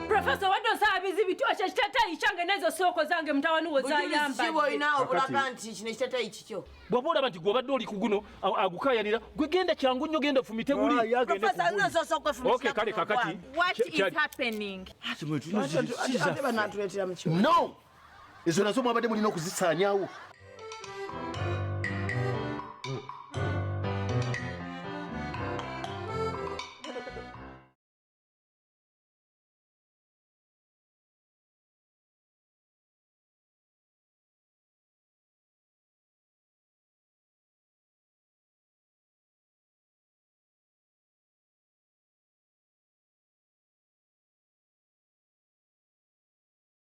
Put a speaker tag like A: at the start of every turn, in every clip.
A: Professor wadde osaba bizibiti ekyo ekiteteeyi kyange n'ezo sooko zange mutawani wo zayambaolina obulaga
B: nti kino ekiteteeyi kikyo bw'oba olaba nti gw'obadde
C: oli ku guno agukaayanira gwe genda kyangu nnyo genda fumite guli
B: kale kakati
D: ezo nazo mwabadde mulina okuzisaanyawo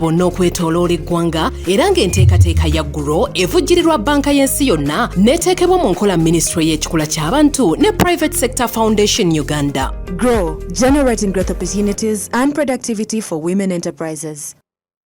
E: bonna okwetoloola eggwanga era ng'enteekateeka ya gro evujjirirwa banka y'ensi yonna n'eteekebwa mu nkola minisitule y'ekikula ky'abantu ne private sector foundation uganda grow
F: generating growth opportunities and productivity for women enterprises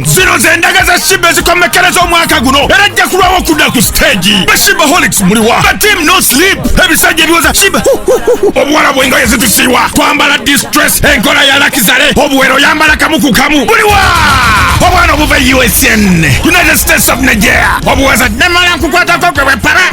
G: zino zendaga za shiba ezikomekkereza omwaka guno era ajja kulwawo okudda ku siteegi bashibaholics muliwa batim no sleep ebisajja ebiwoza shiba obuwala bwengoye zitusiiwa twambala distress enkola ya lakizale obuwero yambala kamu ku kamu buliwa obwana obuva e usn united states of nigeria obuwaza namala nkukwatako gwe bwepara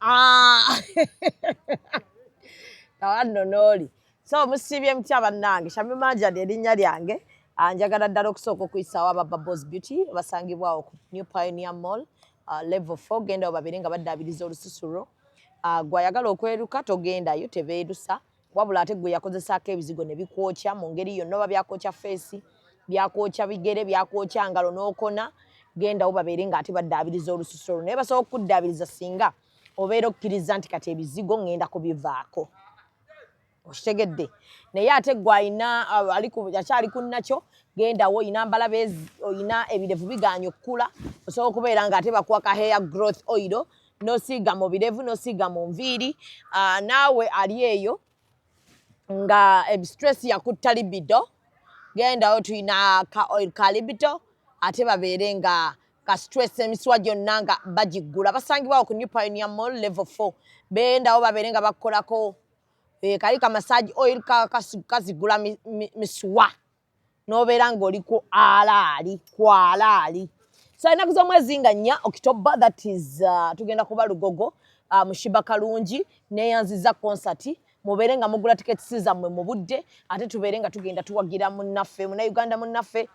B: Ah! Tawanno n'oli. So musiibye mutya bannange? Shamim Manja lye linnya lyange. Ah, njagala ddala okusooka okuyisaawo aba Bubbles Beauty basangibwawo ku New Pioneer Mall ah, level 4 gendawo babiri nga baddaabiriza olususu lwo. Gwayagala okweruka togendayo tebeerusa. wabula ate gwe yakozesaako ebizigo ne bikwokya mu ngeri yonna oba byakwokya feesi byakwokya bigere byakwokya ngalo n'okona gendawo babeere nga ate baddaabiriza olususu olwo naye basobola okukuddaabiriza singa obeera okkiriza nti kati ebizigo ŋŋenda kubivaako okitegedde naye ate gwe alina uh, akyali ku nakyo gendawo olina mbalaba olina ebirevu bigaanya okukula osobola okubeera nga ate bakuwa ka hair growth oil nosiiga mu birevu nosiiga mu nviiri uh, naawe ali eyo nga ebistress yakutta libido gendayo tulina ka oil ka libido ate babeere nga ka stress emiswa gyonna nga bagiggula basangibwawo ku new pionia mall level four bendawo babeere nga bakukolako eh, kali ka massage oil kazigula miswa nobeera ngaoli ku alaali ku alaali so enaku zomwezi nga nnya october that is uh, tugenda kuba lugogo uh, mushiba kalungi neyanziza konsati mubeere nga mugula tiketisi zammwe mu budde ate tubeere nga tugenda tuwagira munnaffe munauganda munnaffe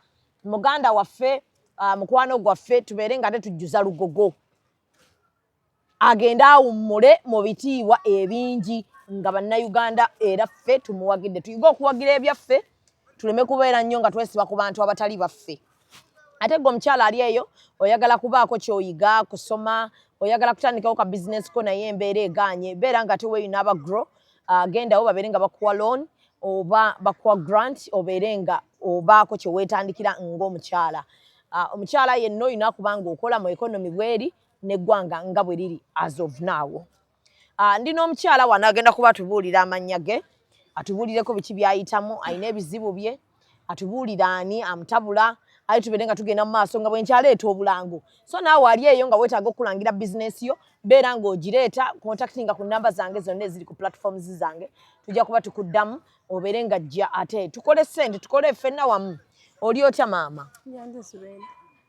B: muganda waffe uh, mukwano gwaffe tubeere nga ate tujjuza lugogo agende awummule mu bitiibwa ebingi nga bannayuganda era ffe tumuwagidde tuyige okuwagira ebyaffe tuleme kubeera nnyo nga twesiba ku bantu abatali baffe ate gwe omukyala ali eyo oyagala kubaako kyoyiga kusoma oyagala kutandikawo ka bizinesi ko naye embeera egaanye beera nga ate weeyina aba gro ah, gendawo babeere nga bakuwa loan oba bakuwa grant obeere nga obaako kyeweetandikira ng'omukyala ah, omukyala yenna olina kubanga okola mu ekonomi bweri n'eggwanga nga bwe liri as of now ah, ndi n'omukyala wano agenda kuba atubuulira amannya ge atubuulireko biki byayitamu alina ebizibu bye atubuulira ani amutabula aye tubeere nga tugenda mu maaso nga bwenkyaleeta obulango so naawe ali eyo nga weetaaga okukulangira bizinesi yo beera ng'ogireeta contactinga ku namba zange zonna eziri ku platforms zange tujja kuba tukuddamu obeere nga jja ate tukole sente tukole ffenna wamu oli otya maama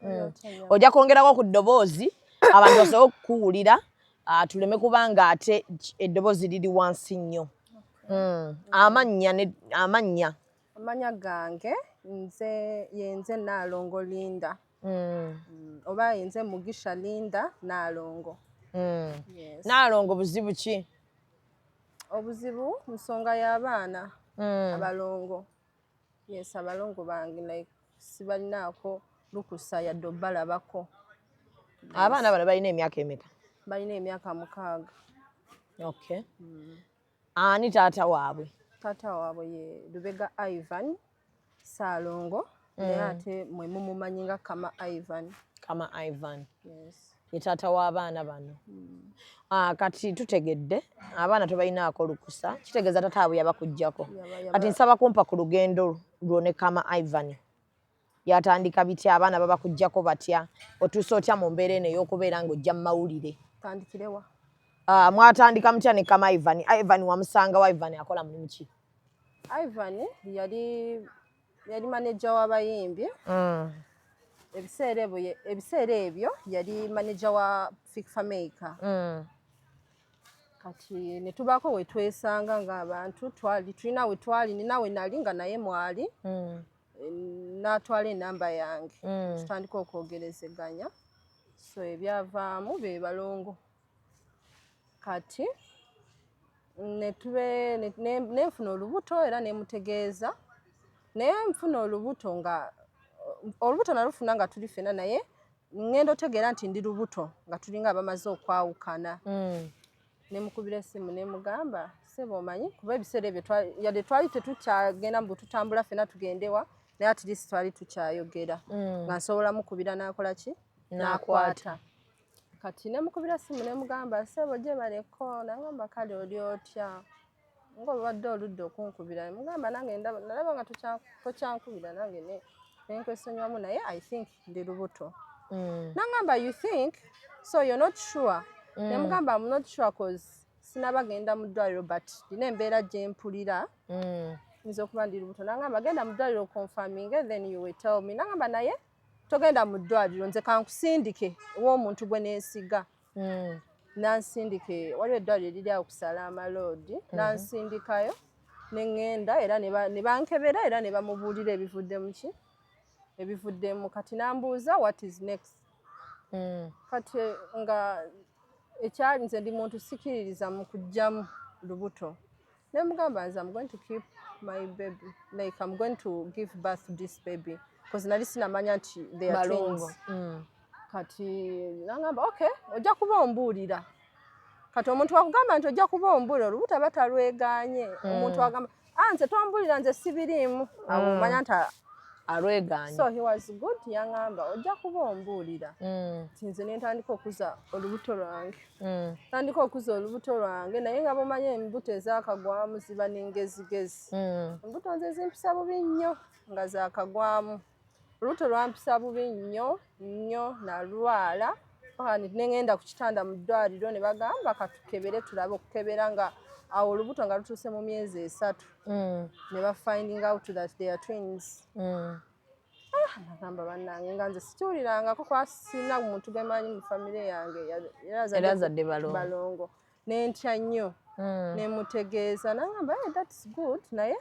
B: mm. ojja kwongerako ku ddoboozi abantu basobola okukuwulira ah, tuleme kubanga ate eddoboozi liri wansi nnyo mm. amannya amannya amanya gange
H: nze yenze naalongo linda mm. oba yenze mugisha linda naalongo naalongo buzibu
B: ki
H: obuzibu nsonga y'abaana abalongo Yes, abalongo bange like sibalinaako lukusa yadde obalabako.
B: Abaana bano balina emyaka emeka Balina emyaka
H: mukaaga.
B: Okay. Mm. Ani taata waabwe? Taata waabwe ye
H: Lubega Ivan Saalongo mm. naye ate mwe mumumanyi nga Kama Ivan. Kama Ivan.
B: Yes. ye
H: taata w'abaana
B: bano ah, kati tutegedde abaana tebalinaako lukusa kitegeeza tata abwe yabakugjako kati nsaba kumpa ku lugendo lwo ne kama ivan yatandika bitya abaana babakugjako batya otuusa otya mu mbeera eno ey'okubeera ng'ojja mu mawulire tandikirewa
H: ah, mwatandika
B: mutya ne kama ivan ah, ivan wamusanga wa ivan akola mulimu ki ivan
H: yali yali maneja w'abayimbi mm. ebiseera ebyo ebiseera ebyo yali maneja wa Fik Fameica mm. kati ne tubaako we twesanga ng'abantu twali tulina we twali nina we nali nga naye mwali mm. n'atwala enamba yange tutandika okwogerezeganya so ebyavaamu be balongo kati nenfuna olubuto era nemutegeeza naye nfuna olubuto nga olubuto nalufuna nga tuli fena naye ngenda otegeera nti ndi lubuto nga tulinga abamaze okwawukana mm. nemukubira esimu nemugamba sebo omanyi kuba ebiseera ebyo yadde twali tetukyagenda mu bututambula fena tugendewa naye at least twali tukyayogera mm. nga nsobola mukubira nakola ki nakwata kati nemukubira simu nemugamba sebo gyebaleko nangamba kale oli otya nga obadde oludde okunkubira mugamba nange nalaba nga tokyankubira nange nenkwesonyiwamu naye i think ndi lubuto mm. nangamba you think so you're not sure mm. nemugamba am not sure cause sinaba genda mu ddwaliro but ndina embeera gyempulira mm. nza okuba ndi lubuto nangamba genda mu ddwaliro confirming then you will tell me nangamba naye togenda mu ddwaliro nze kankusindike ew'omuntu gwe neesiga hmm. nansindike waliwo eddwaliro eriri awo kusala amaloodi hmm. nansindikayo ne ŋŋenda era ne bankebera era ne bamubuulira ebivuddemu ki ebivuddemu kati nambuuza what is next hmm. kati nga ekyali nze ndi muntu sikiririza mu kujjamu lubuto nemugamba nze am going to keep my baby like am going to give birth this baby bcause nali sinamanya nti theatwins mm. kati nangamba okay ojja kuba ombuulira kati omuntu wakugamba nti ojja kuba ombuulira olubuto aba talweganye mm. omuntu agamba a ah, nze twambuulira nze sibiriimu mm. amumanya nti alweganye
B: so he was good
H: yangamba ojja kuba ombuulira nti nze nentandika okuza olubuto lwange Mm. tandika okuza olubuto lwange naye nga bamanya embuto ezakagwamu ziba nengezigezi mm. embuto nze zimpisa bubi nnyo nga zakagwamu olubuto lwampisa bubi nnyo nnyo nalwala nengenda ku kitanda mu ddwaliro ne bagamba katukebere tulabe okukebera nga awo olubuto nga lutuuse mu myezi esatu mm. ne bafinding out that they are twins agamba bannange nga nze sikiwulirangako kuba sirina muntu gwe manyi mu famire yange era azadde
B: balongo
H: ne ntya nnyo hmm. ne mutegeeza nagamba hey, eh, thats good naye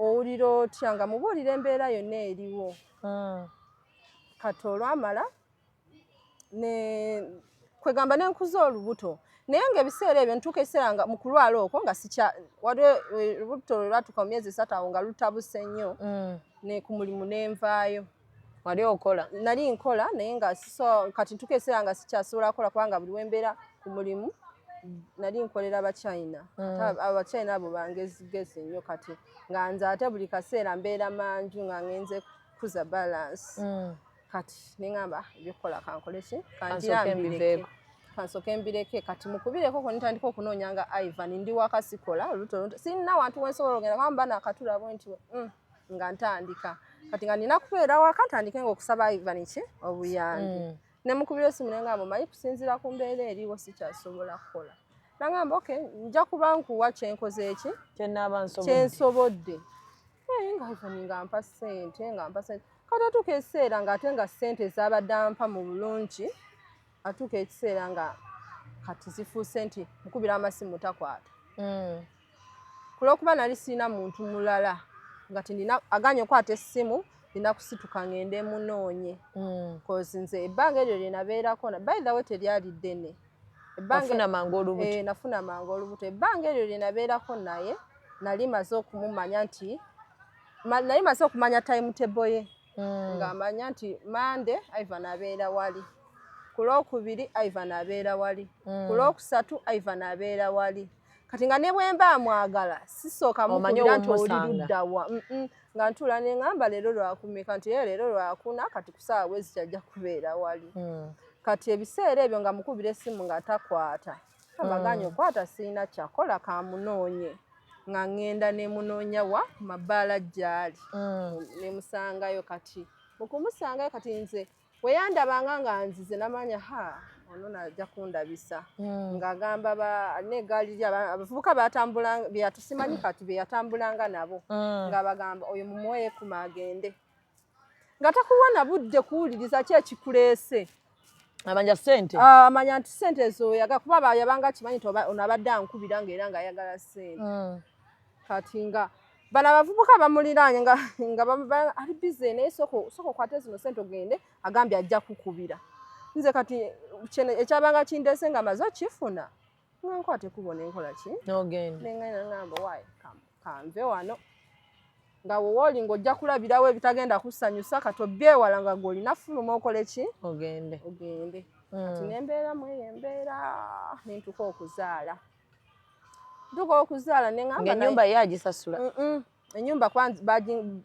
H: owulira otya nga mubuulira embeera yonna eriwo hmm. kati olwamala kwegamba nenkuza olubuto naye nga ebiseera ebyo ntuuka ekiseera nga mukulwala okwo nga sikya waliwo eh, olubuto lwelwatuuka mu myezi esatu awo nga lutabuse nnyo mm. ne ku mulimu nenvaayo wali okola
B: nali nkola naye
H: nga so kati ntuuka ekiseera nga sikyasobola kola kubanga buli wembeera ku mulimu nali nkolera bachina mm. abachina abo bangezigezi nnyo kati nga nze ate buli kaseera mbeera manju nga ngenze kukuza balance mm. kati neŋamba ebyokukola kankoleki kanjambireke kansoke mbireke kati mukubireko ko nitandika okunoonya nga ivan ndi wakasikola oluto oluto sinna wantu wensobola ogenda kama mba nakatula bwe nti mm, nga ntandika kati nga nina kubeera waka ntandike nga okusaba ivan ki obuyambi mm. nemukubira esimu nenga mumanyi kusinzira ku mbeera eriwo sikyasobola kukola nangamba ok nja kuba nkuwa kyenkoze eki kyensobodde naye nga ivan nga mpa sente nga mpa sente katatuuka ekiseera nga ate nga ssente zaabadde ampa mu bulungi atuuka ekiseera nga kati zifuuse nti mukubira amasimu takwata hmm. ku lwokuba nali sirina muntu mulala nga tinina aganye okwata essimu nina kusituka ngende munoonye hmm. coz nze ebbanga eryo lyenabeerako by the way teryali ddene
B: nafuna mangu olubuto
H: eh, ebbanga eryo lyenabeerako naye nali maze okumumanya nti naye maze okumanya time table ye hmm. ng'amanya nti mande ivan abeera wali ku lwokubiri ivan abeera wali hmm. ku lwokusatu ivan abeera wali kati nga ne bwemba amwagala sisooka mukubira nti oli luddawa nga ntuula ne ŋamba leero lwakumeka nti ye leero lwakuna kati ku saawa bwezi kyajja kubeera wali hmm. kati ebiseera ebyo nga mukubira essimu nga takwata amaganya okwata mm. sirina kyakola kamunoonye nga ŋŋenda ne munoonya wa mabbaala gyali mm. ne musangayo kati mu kumusangayo kati nze we yandabanga nga nzize namanya ha ono najja kundabisa mm. ng'agamba banegaali ly abavubuka batusimanyi kati be yatambulanga nabo nga bagamba oyo mumuweeyo ekuma agende nga takuwa na budde kuwuliriza ki ekikuleese amanya
B: sente ah, amanya nti sente
H: ezo yaga kuba yabanga kimanyi nti ono abadde ankubira nga era nga ayagala sente mm. kati nga bano abavubuka bamuliraanye nga ali bize naye soka okwate zino sente ogende agambye ajja kukubira nze kati ekyabanga kindese nga maze okifuna nga nkwata ekubo nenkola ki nogenda nengenda ngamba why kanve wano nga wowooli ng'ojja kulabirawo ebitagenda kusanyusa kati obyewala nga gwolina fuluma okole ki ogende ogende hmm. kati nembeera mweyo embeera nentuka okuzaala ntuka okuzaala nenamba enyumba ye agisasula
B: enyumba
H: kuba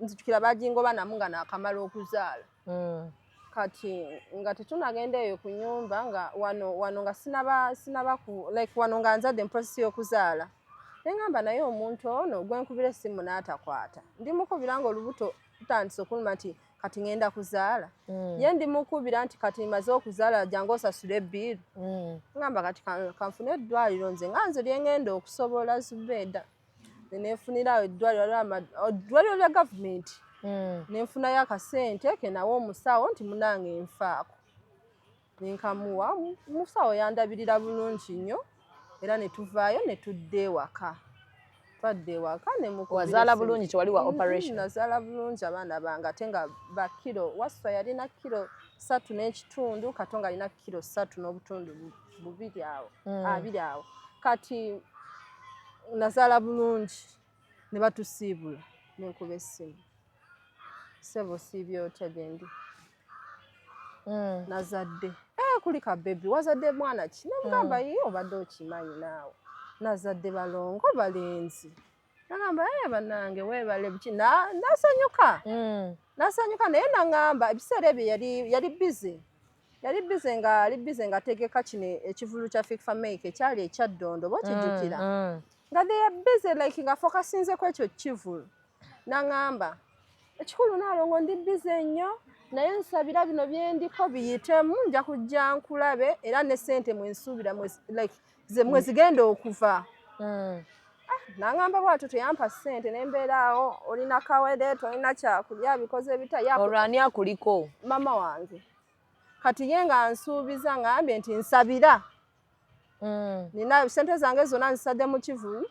H: nzijukira bagingoba namu nga nakamala okuzaala hmm. kati nga tetunagenda eyo ku nyumba nga wano wano nga sinaba sinaba ku like wano nga nzadde muprosesi y'okuzaala nengamba naye omuntu ono gwenkubira essimu n'atakwata ndi mukubira nga olubuto tutandise okuluma nti kati ngenda kuzaala mm. ye ndi mukubira nti kati maze okuzaala jangu osasule ebbiiru mm. ngamba kati kanfune eddwaliro nze nga nze lyengenda okusobola zubeeda nenefunira awo eddwaliro waliwo eddwaliro lya gavumenti hmm. nenfunayo akasente kenawe omusawo nti munange nfaako nenkamuwa omusawo yandabirira bulungi nnyo era netuvaayo netudda ewaka twadda ewaka nemuwazaala bulungi
B: tewali wa operation hmm, nazaala bulungi
H: abaana bange ate nga bakiro waswa yalina kiro satu n'ekitundu kato nga alina kiro satu n'obutundu bubu bubiri awo mm. abiri awo kati nazaala bulungi ne batusiibula nenkuba essimu sebo siibye otya gyendi mm. nazadde eh, kuli ka bebi wazadde mwana ki nemugamba mm. ye obadde okimanyi naawe nazadde balongo balenzi nagamba e eh, banange webale buki nasanyuka mm. nasanyuka naye nangamba ebiseera ebyo yali bize yali bize nga ali bize nga ategeka kino ekivulu kya fikfa make ekyali ekyaddondo bokijukira mm, mm. nga they are busy like nga focusinze ku ekyo kivulu nangamba ekikulu nalongo ndi bize nnyo naye nsabira bino byendiko biyitemu nja kujja nkulabe era ne sente mwensuubira like ze mwe zigenda okuva mm. ah, nangamba bwatyo teyampa sente nembeeraawo olina kawede tolina kyakulya bikoze bitaolwani akuliko
B: mama wange
H: kati ye nga nsuubiza ngambye nti nsabira mm. nina sente zange zona nzisade mu kivu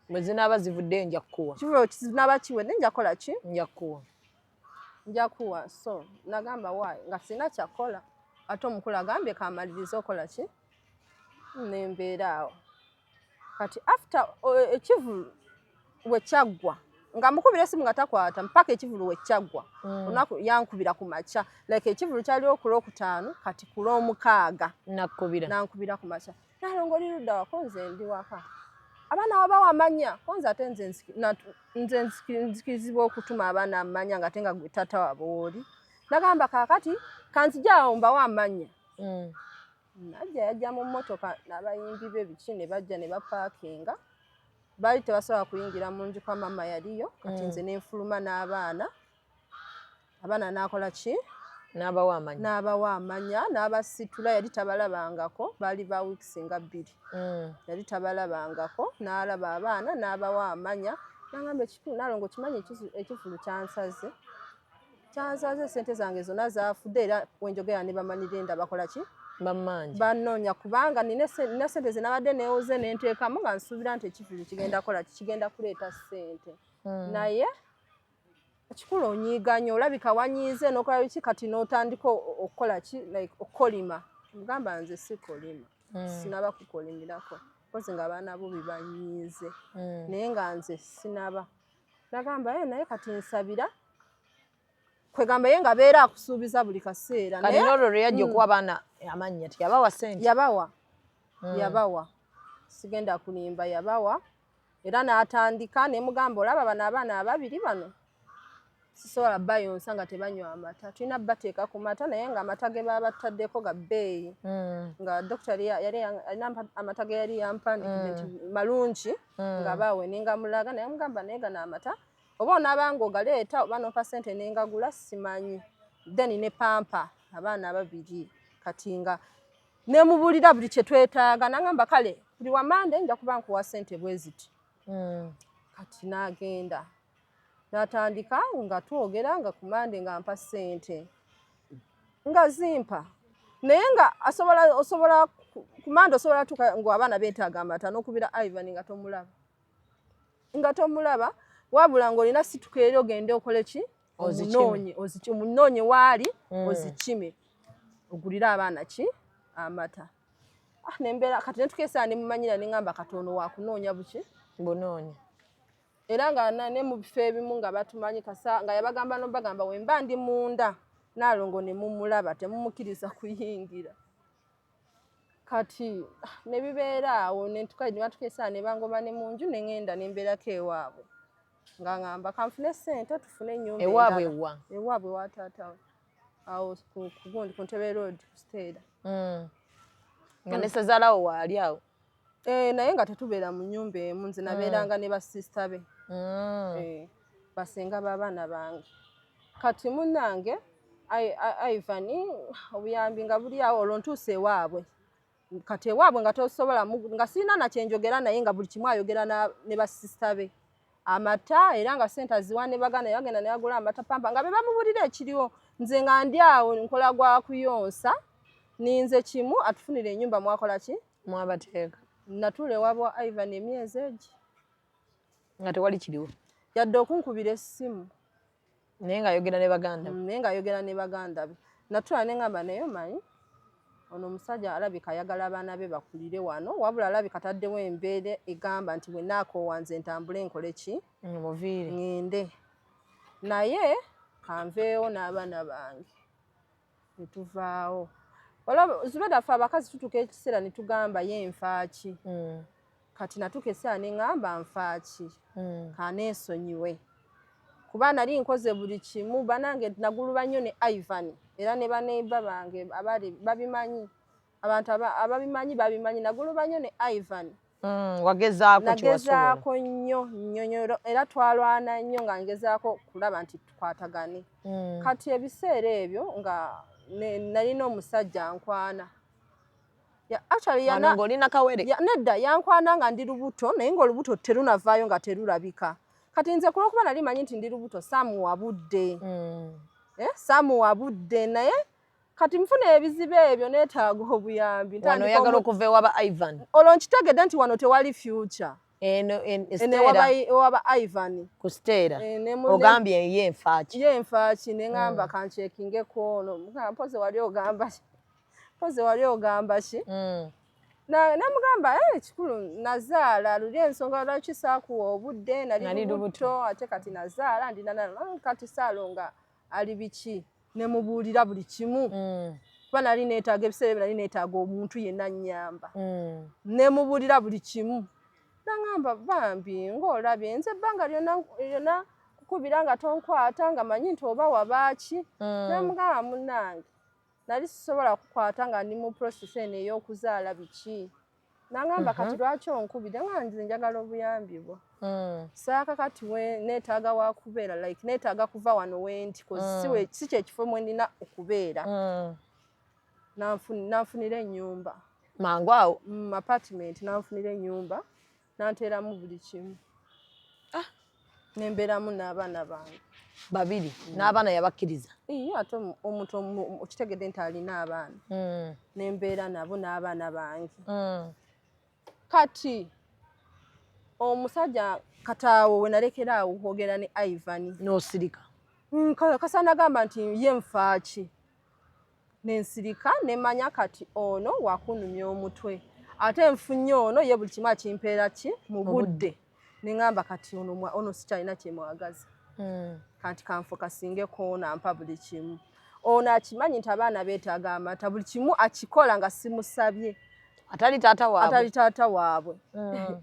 H: bwe zinaaba
B: zivudde nja kukuwa kivu kizinaaba kiwedde
H: nja kukola ki nja kukuwa
B: nja
H: kuwa so nagamba wayi nga sirina kyakukola ate omukulu agambye kamaliriza okola ki nembeera awo kati after eh, ekivulu wekyaggwa nga mukubira esimu nga takwata mpaka ekivulu wekyaggwa mm. olunaku yankubira ku makya like ekivulu kyali okula okutaano kati kula omukaaga nakubira nankubira ku makya nalongo oli ludda wako nze ndi waka abaana waba wamanya ko nze ate nze nzikirizibwa okutuma abaana amanya nga ate nga gwe tata wabo wooli nagamba kakati kanzijaawo mbawo amanya mm. najja yajja mu mmotoka n'abayimbi be biki ne bajja ne bapaakinga baali tebasobola kuyingira mu nju kwa maama yaliyo kati mm. nze ne nfuluma n'abaana abaana n'akola ki n'abawa amanya
B: n'abawa amanya n'abasitula yali tabalabangako baali ba weeks nga bbiri mm. yali tabalabangako n'alaba abaana n'abawa amanya nangamba ekikulu nalongo kimanyi ekivulu kyansaze kyansaze sente zange zona zafude era wenjogera ne bamanyi genda bakola ki bamanja banonya kubanga nina sente zinabadde newoze nentekamu nga nsubira nti ekifizi kigenda kola kigenda kuleeta sente hmm. naye ekikulu onyiiganya olabika wanyiize nokola biki kati notandika okukola ki like okukolima mugamba nze sikolima hmm. sinaba kukolimirako kozi nga abaana bobi banyiize hmm. naye nga nze sinaba nagamba ye eh, naye kati nsabira kwegamba ye nga beera akusuubiza buli kaseera kati nolwo lwe yajja mm. okuwa abaana amannya ti yabawa sente yabawa mm.
H: yabawa sigenda kulimba yabawa era n'atandika ne mugamba olaba bano abaana ababiri bano sisobola bayonsa nga tebanywa amata tulina bateeka ku mata naye nga amata ge baba bataddeko ga bbeeyi mm. nga dokita yali alina amata ge yali yampa nti malungi mm. nga baawe ningamulaga naye mugamba naye gano amata oba onabanga ogaleeta oba nompa sente nengagula simanyi then ne pampa abaana ababiri kati nga nemubulira buli kyetwetaaga nangamba kale buli wamande nja kuba nkuwa sente bweziti mm. kati nagenda natandika awo nga twogera nga ku mande nga mpa ssente nga zimpa naye nga asobola osobola ku mande osobola tuka nga abaana betaaga amata n'okubira ivan nga tomulaba nga tomulaba wabula ng'olina situka eri ogende okole ki omunoonye omunoonye waali mm. ozikime ogulire abaana ki amata ah, nembeera kati netukesaa nemumanyira nengamba katono wakunoonya buki bunoonya
B: era
H: nga ne mu bifo ebimu nga batumanyi kasa nga yabagamba nobagamba wemba ndi munda nalongo ne mumulaba temumukiriza kuyingira kati ah, ne bibeera awo nentuka ne batukesa ne bangoba ne mu nju ne ŋenda ne mbeerako ewaabwe nga ŋamba kanfune ssente tufune ennyumba ewaabwe wa ewaabwe wa taata we awo kugundi ku ntebe road kusteera mm.
B: nga ne sezalawo waali awo Eh, naye nga
H: tetubeera mu nyumba emu nze nabeeranga ne basista be Mm. Eh, basenga b'abaana bange kati munnange Ai- Ai- ivan obuyambi nga buli awo olwo ntuusa ewaabwe kati ewaabwe nga tosobola mu- nga sirina nakyenjogera naye nga buli kimu ayogera na- ne basista be amata era nga sente aziwa ne bagana yagenda ne yagula amata pampa nga be bamubulira ekiriwo nze nga ndi awo nkola gwa kuyonsa ninze kimu atufunire enyumba mwakola ki mwabateeka
B: natuula ewabwa
H: ivan emyezi egi
B: nga tewali kiriwo yadde okunkubira
H: essimu naye nga
B: ayogera ne baganda mm, naye nga ayogera ne
H: baganda be natula ne ngamba naye omanyi ono omusajja alabika ayagala abaana be bakulire wano wabula alabika taddewo embeera egamba nti bwe naakoowanze ntambule nkole ki mm, muviire ngende naye kanveewo n'abaana bange ne tuvaawo olaba zubeda ffe abakazi tutuka ekiseera ne tugamba ye nfaaki mm. kati natuka eseera ne ŋamba nfaaki mm. kaneesonyiwe kuba nali nkoze buli kimu banange naguluba nnyo ne ivan era ne baneiba bange abali babimanyi abantu ababimanyi babimanyi naguluba nyo ne ivan mm, wagezaako nagezaako nnyo nnyonyolo era twalwana nnyo nga ngezaako kulaba nti tukwatagane mm. kati ebiseera ebyo nga nalina omusajja nkwana nedda yankwana nga ndi lubuto naye ngaolubuto terunavaayo nga terulabika kati nze kulwokuba nali manyi nti ndi lubuto samuwa budde mm. eh, samuwa budde naye kati nfuna ebizibu ebyo neetaaga obuyambi wano oyagala okuva
B: ewaba ivan olwo nkitegedde nti
H: wano tewali future eno ewaba ivan ku siteera
B: eh, ogambye ye nfaaki ye nfaaki ne ŋamba mm.
H: kankyekingeko ono mpoze wali ogamba ki mpoze wali ogamba ki mm. namugamba eh, kikulu nazaala luli ensonga lwaki saakuwa obudde nali lubuto ate kati nazaala ndinanakati saalonga ali biki ne mubuulira buli kimu mm. kuba nali neetaaga ebiseera ebyo nali neetaaga omuntu yenna nnyamba mm. ne mubuulira buli kimu naŋamba bambi ng'olabye nze ebbanga lyonna kukubira nga tonkwata nga manyi nti oba wabaaki mm. namugamba munnange nali sisobola kukwata nga ndi mu process eno ey'okuzaala biki nangamba uh -huh. kati lwaki onkubira nga nze njagala obuyambi bwo mm. saaka kati netaaga wakubeera like netaaga kuva wano wendi mm. si kyekifo mwenina okubeera mm. nanfunira enyumba mangu awo
B: mm, apartment
H: nanfunira enyumba nanteeramu buli kimu ah. nembeeramu n'abaana bange babiri mm.
B: n'abaana yabakkiriza iyo ate
H: omuntu okitegedde nti alina abaana mm. nembeera nabo n'abaana bange mm. kati omusajja kataawo wenalekera awo kwogera ne ivan nosirika
B: kasana
H: agamba nti ye nfaaki nensirika nemanya kati ono wakunumya omutwe ate nfunye ono ye buli kimu akimpeera ki mu budde neŋamba kati ono, ono sikyalina kyemwagaza hmm. kati kanfokasinge koona mpa buli kimu ono akimanyi nti abaana beetaaga amata buli kimu akikola nga simusabye
B: atali taata waabwe hmm.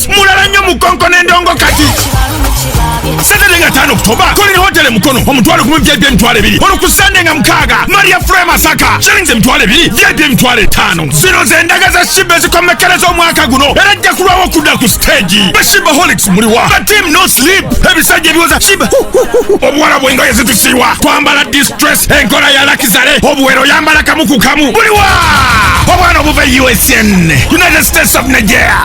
G: Street mulala nnyo mu konko n'endongo kati Saturday nga tano Oktoba Colin Hotel Mukono omutwalo gumu VIP emitwalo ebiri olwo ku Sunday nga mukaaga Maria Fry Masaka shillings emitwalo ebiri VIP emitwalo etaano zino z'endaga za Shibba ezikomekkereza omwaka guno era ajja kulwawo okudda ku siteegi ba Shibba Holics muliwa ba Team No Sleep ebisajja ebiwoza Shibba obuwala bw'engoye zitusiiwa twambala distress enkola ya lakizale obuwero yambala kamu ku kamu buliwa obwana obuva e USN United States of Nigeria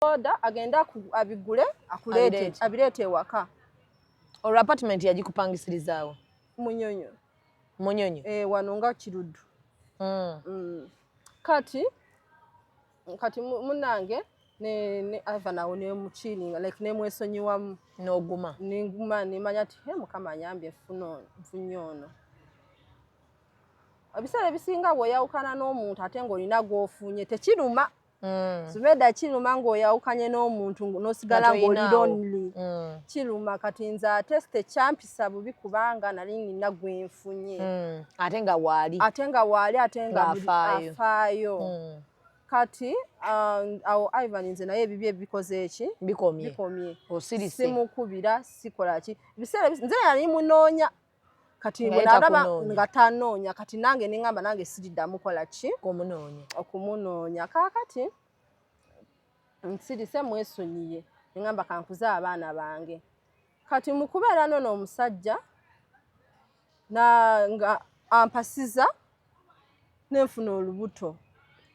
F: boda
H: agende abigule akuleete abireete ewaka olwo
B: apartment yagikupangisirizaawo
H: munyonyo
B: munyonyo e, wano nga
H: kiruddu mm. mm. kati kati munange ne ne ava nawo ne muchilinga like ne mwesonyiwamu noguma
B: ninguma nimanya
H: ti he mukama anyambye funo mfunyono ebiseera ebisinga bweyawukana n'omuntu ate ng'olina gw'ofunye tekiruma Mm. Zubeda kiruma ng'oyawukanye n'omuntu n'osigala ng'oli lonely. Mm. Kiruma kati nze ate tekyampisa bubi kubanga nali nina gwe nfunye. Mm. Ate nga
B: waali. Ate nga waali ate nga
H: afaayo. Mm. Kati um, awo um, Ivan nze naye ebibye ebikoze eki? Bikomye. Bikomye. Osirise.
B: Simukubira
H: sikola ki. Biseera nze yali munoonya. kati bwenalaba nga tanoonya kati nange nengamba nange siriddamu kola ki okumunoonya kakati nsirise mwesonyiye nengamba kankuze abaana bange kati mukubeera nono omusajja nga ampasiza nenfuna olubuto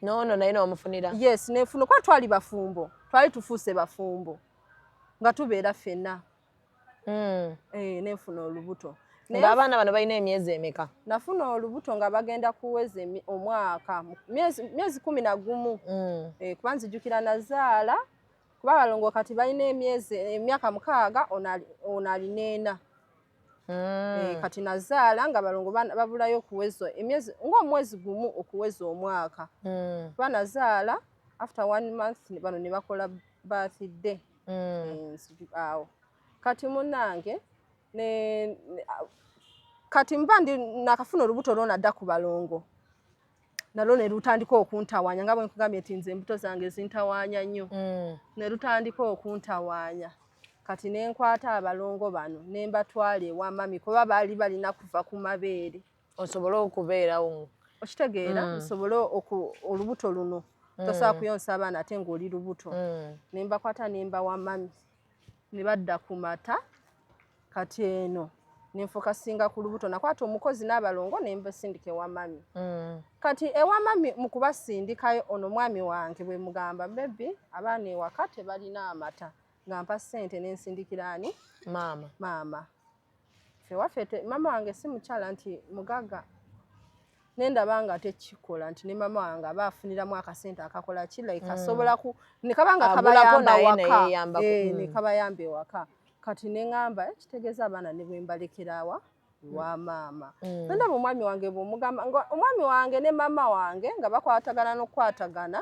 H: nono naye
B: nomufunira yes nenfuna kuba
H: twali bafumbo twali tufuuse bafumbo nga tubeera fena mm. e, nefuna olubuto nga abaana bano balina
B: emyezi emeka nafuna olubuto
H: nga bagenda kuweza omwaka myezi kumi na gumu mm. e, kuba nzijukira nazaala kuba abalongo kati balina emyezi emyaka mukaaga ono alina ena mm. kati nazaala nga balongo babulayo okuweza emyezi ngaomwezi gumu okuweza omwaka mm. kuba nazaala after one month bano ne bakola birthday mm. eh, awo kati munange kati mba ndi nakafuna olubuto lwona dda ku balongo nalwo ne lutandika okuntawanya nga bwe nkugambye nti nze embuto zange zintawanya nnyo mm. ne lutandika okuntawanya kati ne nkwata abalongo bano ne mbatwala ewa mami kuba baali balina kuva ku mabeere osobole
B: okubeerawo okitegeera mm.
H: osobole olubuto luno mm. tosobola kuyonsa abaana ate ng'oli lubuto mm. ne mbakwata ne mbawa mami ne badda ku mata kati eno nenfokasinga ku lubuto nakwata omukozi n'abalongo nembasindika ewa mami mm. kati ewa mami mu kubasindikayo ono mwami wange bwe mugamba bebi abaana ewaka tebalina amata nga mpa ssente nensindikiraani maama maama fewaffe mama wange si mukyala nti mugaga nendaba nga tekikola nti ne mama wange aba afuniramu akasente akakola ki like mm. asobola ku nekaba nga kabayamba waka eh, mm. nekabayamba ewaka kati neŋamba eh, kitegeeza abaana ne bwembalekerawa mm. wa maama nendaba omwami wange bwomugamba nga omwami wange ne mama wange nga bakwatagana nokukwatagana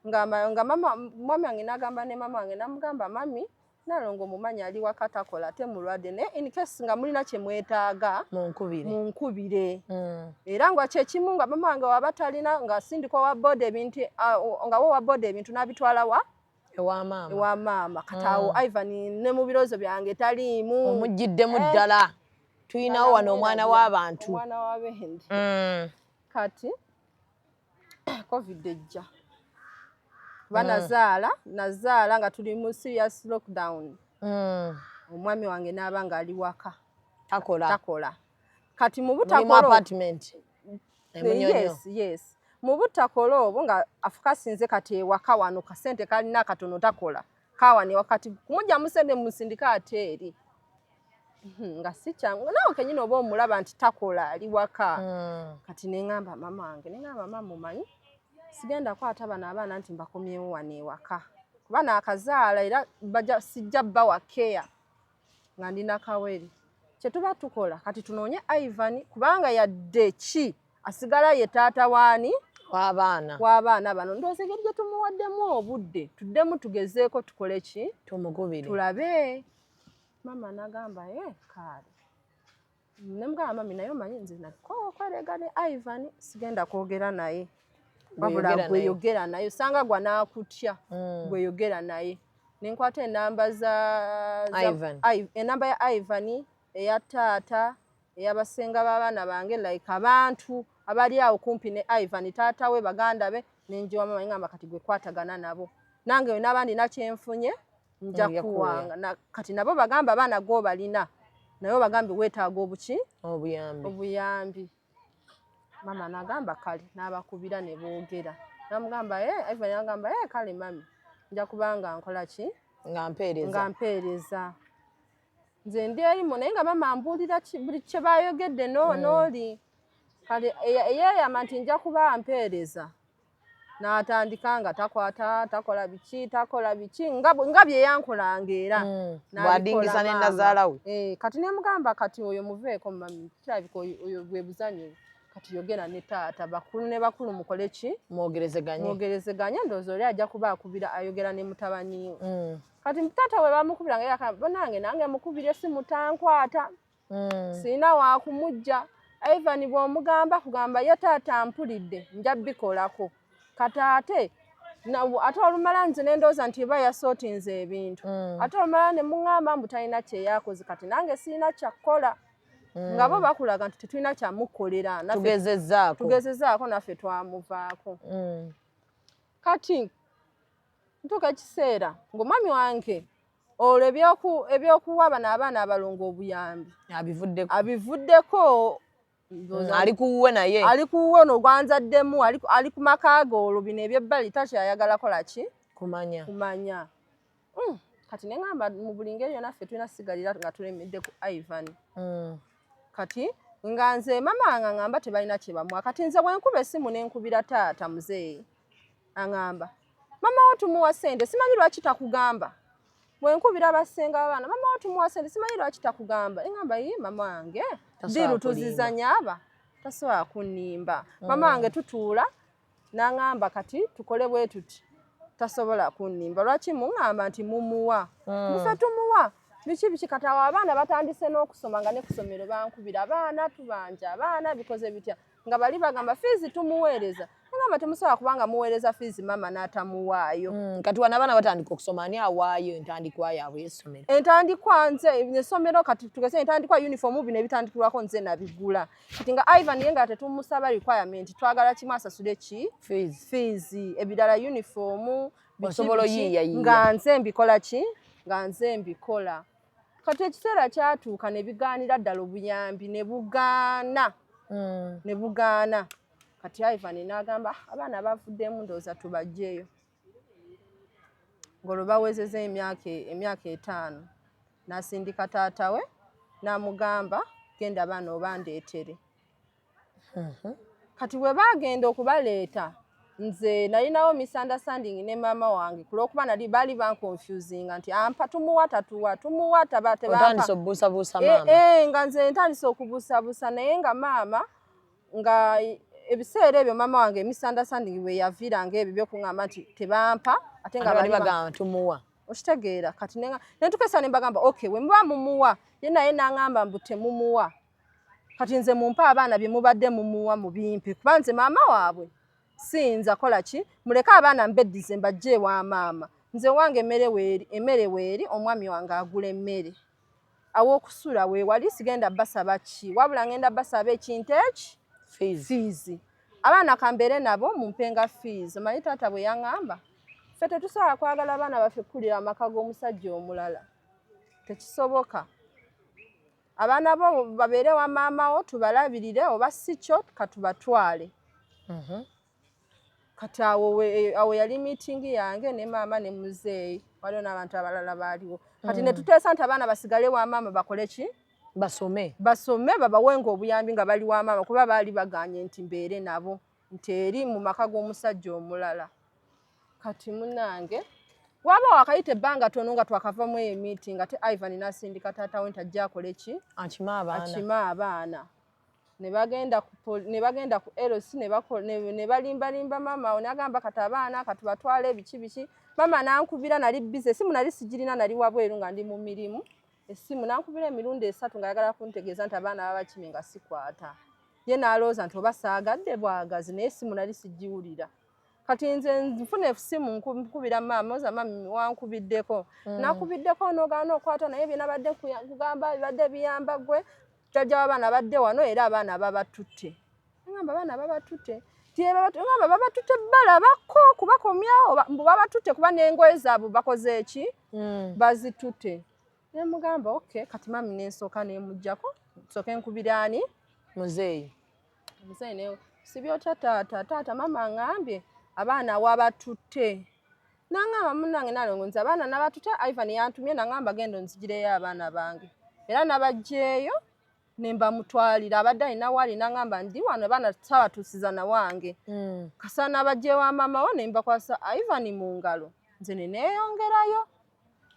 H: nga mama mwami wange nagamba ne mama wange namugamba mami Nalongo mumanyi ali waka takola ate mulwadde naye in case nga mulina kye mwetaaga munkubire mm. era nga kyekimu nga mama wange waba talina nga sindikwa wa boda ebintu nga wo wa boda ebintu n'abitwala wa ewa maama kataawo mm. ivan ne mu biroozo byange taliimu omuggiddemu eh. ddala
B: eh. tulinawo wano omwana w'abantu mm.
H: kati covid ejja kuba mm. nazaala nazaala nga tuli mu serious lockdown mm. omwami wange n'aba nga ali waka takola takola kati mu butakola apartment
B: yes yes
H: mu butakola obwo nga afukasinze kati ewaka wano kasente kalina akatono takola kaawa ne wakati kumugyamu sente mumusindika ate eri hmm, nga si kyangu naawe kenyini oba omulaba nti takola ali waka hmm. kati neŋamba mama wange neŋamba mama mumanyi sigenda kwata bano abaana nti mbakomyewo wano ewaka kuba naakazaala era sijja bba wa keya nga ndi nakawere kyetuba tukola kati tunoonye ivan kubanga yadde ki asigala ye taata waani wabaana wabaana bano ndowooza engeri gye tumuwaddemu obudde tuddemu tugezeeko tukole ki tumugubire tulabe maama nagamba e eh, kaale nemugamba mami naye omanyi nze nakokwerega ne ivan sigenda kwogera naye wabula gweyogera naye osanga gwa nakutya hmm. gweyogera naye nenkwata enamba za enamba ya ivan eya taata eyabasenga babaana bange like abantu abali awo kumpi ne ivan taata we baganda be nenjiwa mama ngamba kati gwe kwatagana nabo nange we nabandi nakyenfunye nja kuwanga kati nabo bagamba abaana gwo balina naye bagambye wetaaga obuki obuyambi mama nagamba kale nabakubira ne boogera namugamba e eh, ivan agamba e eh, kale mami nja kubanga nkola ki nga mpeereza nze ndi erimu naye nga mama mbuulira buli kye bayogedde eh. n'oli kale eyeeyama nti nja kuba mpeereza n'atandika nga takwata takola biki takola biki nga bye yankolanga era hmm. bwadingiza
B: ne nazaala we eh, kati ne mugamba kati
H: oyo muveeko mami kirabika oyo bwe buzanyo kati yogera ne taata bakulu ne bakulu mukole ki mwogerezeganye mwogerezeganye ndowooza oli ajja kuba akubira ayogera ne mutabani we hmm. kati mutata we bamukubira nga yakana banange nange mukubira esimu tankwata hmm. sirina wakumujja ivan bwomugamba kugamba ye taata mpulidde nja bikolako kati ate ate olumala nze nendowooza nti eba yasootinze ebintu hmm. ate olumala ne muŋŋamba mbu talina kyeyakoze kati nange sirina kyakukola hmm. nga bo bakulaga nti tetulina kyamukolera tugezezaako naffe twamuvaako kati ntuuka ekiseera ng'omwami wange olwo ebyokuwa bano abaana abalongo obuyambi abivuddeko abivuddeko mm, ali kuwuwe
B: naye ali kuwuwe no
H: gwanzaddemu ali ku maka ge olwo bino ebyebbali takyayagala kola ki kumanya kumanya mm, kati ne ŋamba mu buli ngeri yona ffe tulina sigalira nga tulemedde ku ivan mm. kati nga nze mama nga ŋamba tebalina kyebamwa kati nze bwenkuba esimu nenkubira taata muzeeyi Angamba mama wo tumuwa sente simanyi lwaki takugamba wenkubira basenga abaana mama wo tumuwa sente simanyi lwaki takugamba engamba yi mama wange diru tuzizanya aba tasobola kunimba mm. mama wange tutuula nangamba kati tukole bwe tuti tasobola kunimba lwaki mungamba nti mumuwa mm. mufe tumuwa biki biki kati awo abaana batandise n'okusoma nga nekusomero bankubira abaana tubanja abaana bikoze bitya nga bali bagamba fiizi tumuweereza nagamba temusobola kubanga muweereza fiizi maama n'atamuwaayo mm, kati wana abaana batandika
B: okusoma ani awaayo entandikwa yaabwe esomero entandikwa
H: nze esomero kati tugese entandikwa yunifoomu bino ebitandikirwako nze nabigula kati nga ivan ye nga tetumusaba requirement twagala kimu asasule ki fiizi ebirala yunifoomu osobola
B: oyiiyayiiya nga nze mbikola
H: ki nga nze mbikola kati ekiseera kyatuuka ne bigaanira ddala obuyambi ne bugaana hmm. ne bugaana kati ivan n'agamba ah, abaana bavuddemu ndowooza tubajjeeyo ng'olwo bawezeza emyaka etaano n'asindika taata we n'amugamba genda baana obandeetere kati bwe baagenda okubaleeta nze nalinawo misunderstanding ne maama wange kulwokuba nali baali banconfusinga nti ampa tumuwa tatuwa tumuwa taba tebaatandise okubuusabuusa
B: eh, maama eh, nga nze ntandise
H: okubuusabuusa naye nga maama nga ebiseera ebyo maama wange misunderstanding bwe yaviiranga ebyo byokuŋamba nti tebampa ate nga bali bagamba tumuwa
B: okitegeera kati
H: netukesa ne mbagamba okay we muba mumuwa ye naye nangamba mbu temumuwa kati nze mumpe abaana bye mubadde mumuwa mu bimpe kuba nze maama waabwe siyinza kola ki muleke abaana mbeddize mbajja ewa maama nze wange emmere weeri emmere weeri omwami wange agula emmere aw'okusula weewali sigenda basaba ki wabula ngenda basaba ekintu eki fiizi abaana kambeere nabo mumpenga fiizi omanyi taata bwe yaŋŋamba ffe tetusobola kwagala abaana baffe kukulira amaka g'omusajja omulala tekisoboka abaana bo babeere wa maama wo tubalabirire oba si kyo katubatwale mhm. kati awo e, awo yali miitingi yange ne maama ne muzeeyi waliwo n'abantu abalala baaliwo kati mm. ne tuteesa nti abaana basigale wa maama bakole ki basome basome babawenga obuyambi nga bali wa maama kuba baali baganye nti mbeere nabo nti eri mu maka g'omusajja omulala kati munange waba wakayita ebbanga tono nga twakavamu eyo emiti nga te ivan nasindika taata we nti ajja akole ki akime abaana ne bagenda ku lc ne balimbalimba maama awo nagamba kati abaana kati batwala ebiki biki maama nankubira nali bize esimu nali sigirina nali wabweru nga ndi mu mirimu essimu nankubira emirundi esatu ng'ayagala kuntegeeza nti abaana babakimi nga sikwata ye naalowooza nti oba saagadde bwagazi naye essimu nali sigiwulira kati nze nfuna esimu nkubira maama oza mami wankubiddeko mm. nakubiddeko nogaana okwata naye byenabadde kugamba bibadde biyamba gwe jajja wabaana badde wano era abaana babatutte ngamba abaana babatutte ngamba babatutte balabako kubakomyawo mbu babatutte kuba nengoye zaabwe bakoze eki mm. bazitute nemugamba ok kati mami nensooka nemujjako nsooke nkubiraani muzeeyi muzeeyi ne sibyotya taata taata mama ngambye abaana wabatutte nangamba munange nalongo nze abaana nabatutte ivan yantumye nangamba genda onzigireyo abaana bange era nabajjeeyo nembamutwalira abadde alina waali nangamba ndi wano abaana tusabatuusiza nawange hmm. kasaana abajjewa maama wo nembakwasa ivan mu ngalo nze neneyongerayo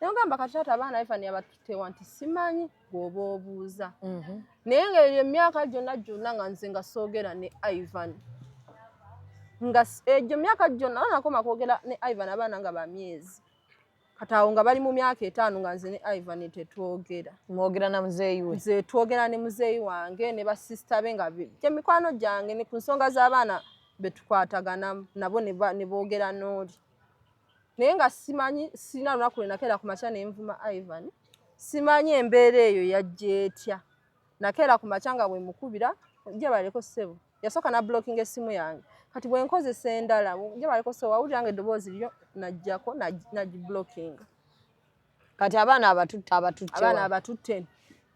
H: nagamba kati taata abaana ivan abatutewa nti simanyi gwoba obuuza mhm. naye nga eyo emyaka gyonna gyonna nga nze nga soogera ne ivan nga egyo myaka gyonna nakoma kwogera ne ivan abaana nga bamyezi kati awo nga bali mu myaka etaano nga nze ne ivan tetwogera mwogera na muzeeyi we nze twogera ne muzeeyi wange ne basisita be nga gye mikwano gyange ne ku nsonga z'abaana be tukwatagana nabo ne boogera n'oli naye nga simanyi sirina lunaku lwe nakeera ku makya ne nvuma ivan simanyi embeera eyo yajja etya nakeera ku makya nga bwemukubira jabaleko ssebo yasooka nablockinga essimu yange kati bwenkozesa endala jabaleko ssebo wawulira nga eddoboozi lyo najjako nagiblockinga kati abaana abatutte abatutte abaana abatutte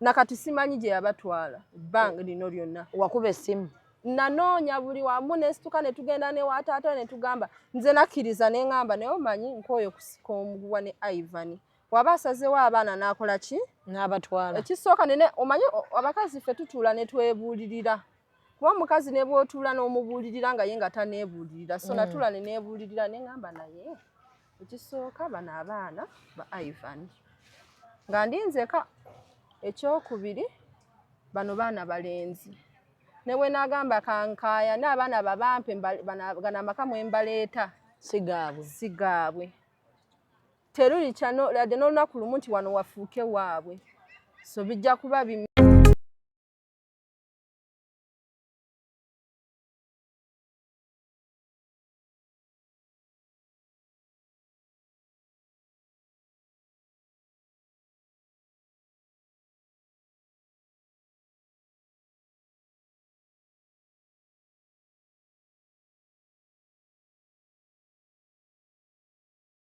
H: nakati simanyi gye yabatwala ebbanga lino lyonna wakuba essimu nanoonya buli wamu nesituka netugenda newataata netugamba nze nakkiriza nengamba naye omanyi nkooyo kusika omuguwa ne ivani waba asazewo abaana nakola ki nabatwala ekisooka nene omanyi abakazi ffe tutuula netwebuulirira kuba omukazi nebwotuula n'omubuulirira nga ye nga tanebuulirira so mm. natuula nenebuulirira nengamba naye ekisooka bano abaana ba ivan nga ndinzeka ekyokubiri bano baana balenzi newe nagamba kankaya n'abaana babampe gano amaka mwembaleeta sigaabwe sigaabwe terulikya ladde n'olunaku lumu nti wano wafuuke waabwe so bijja kuba bi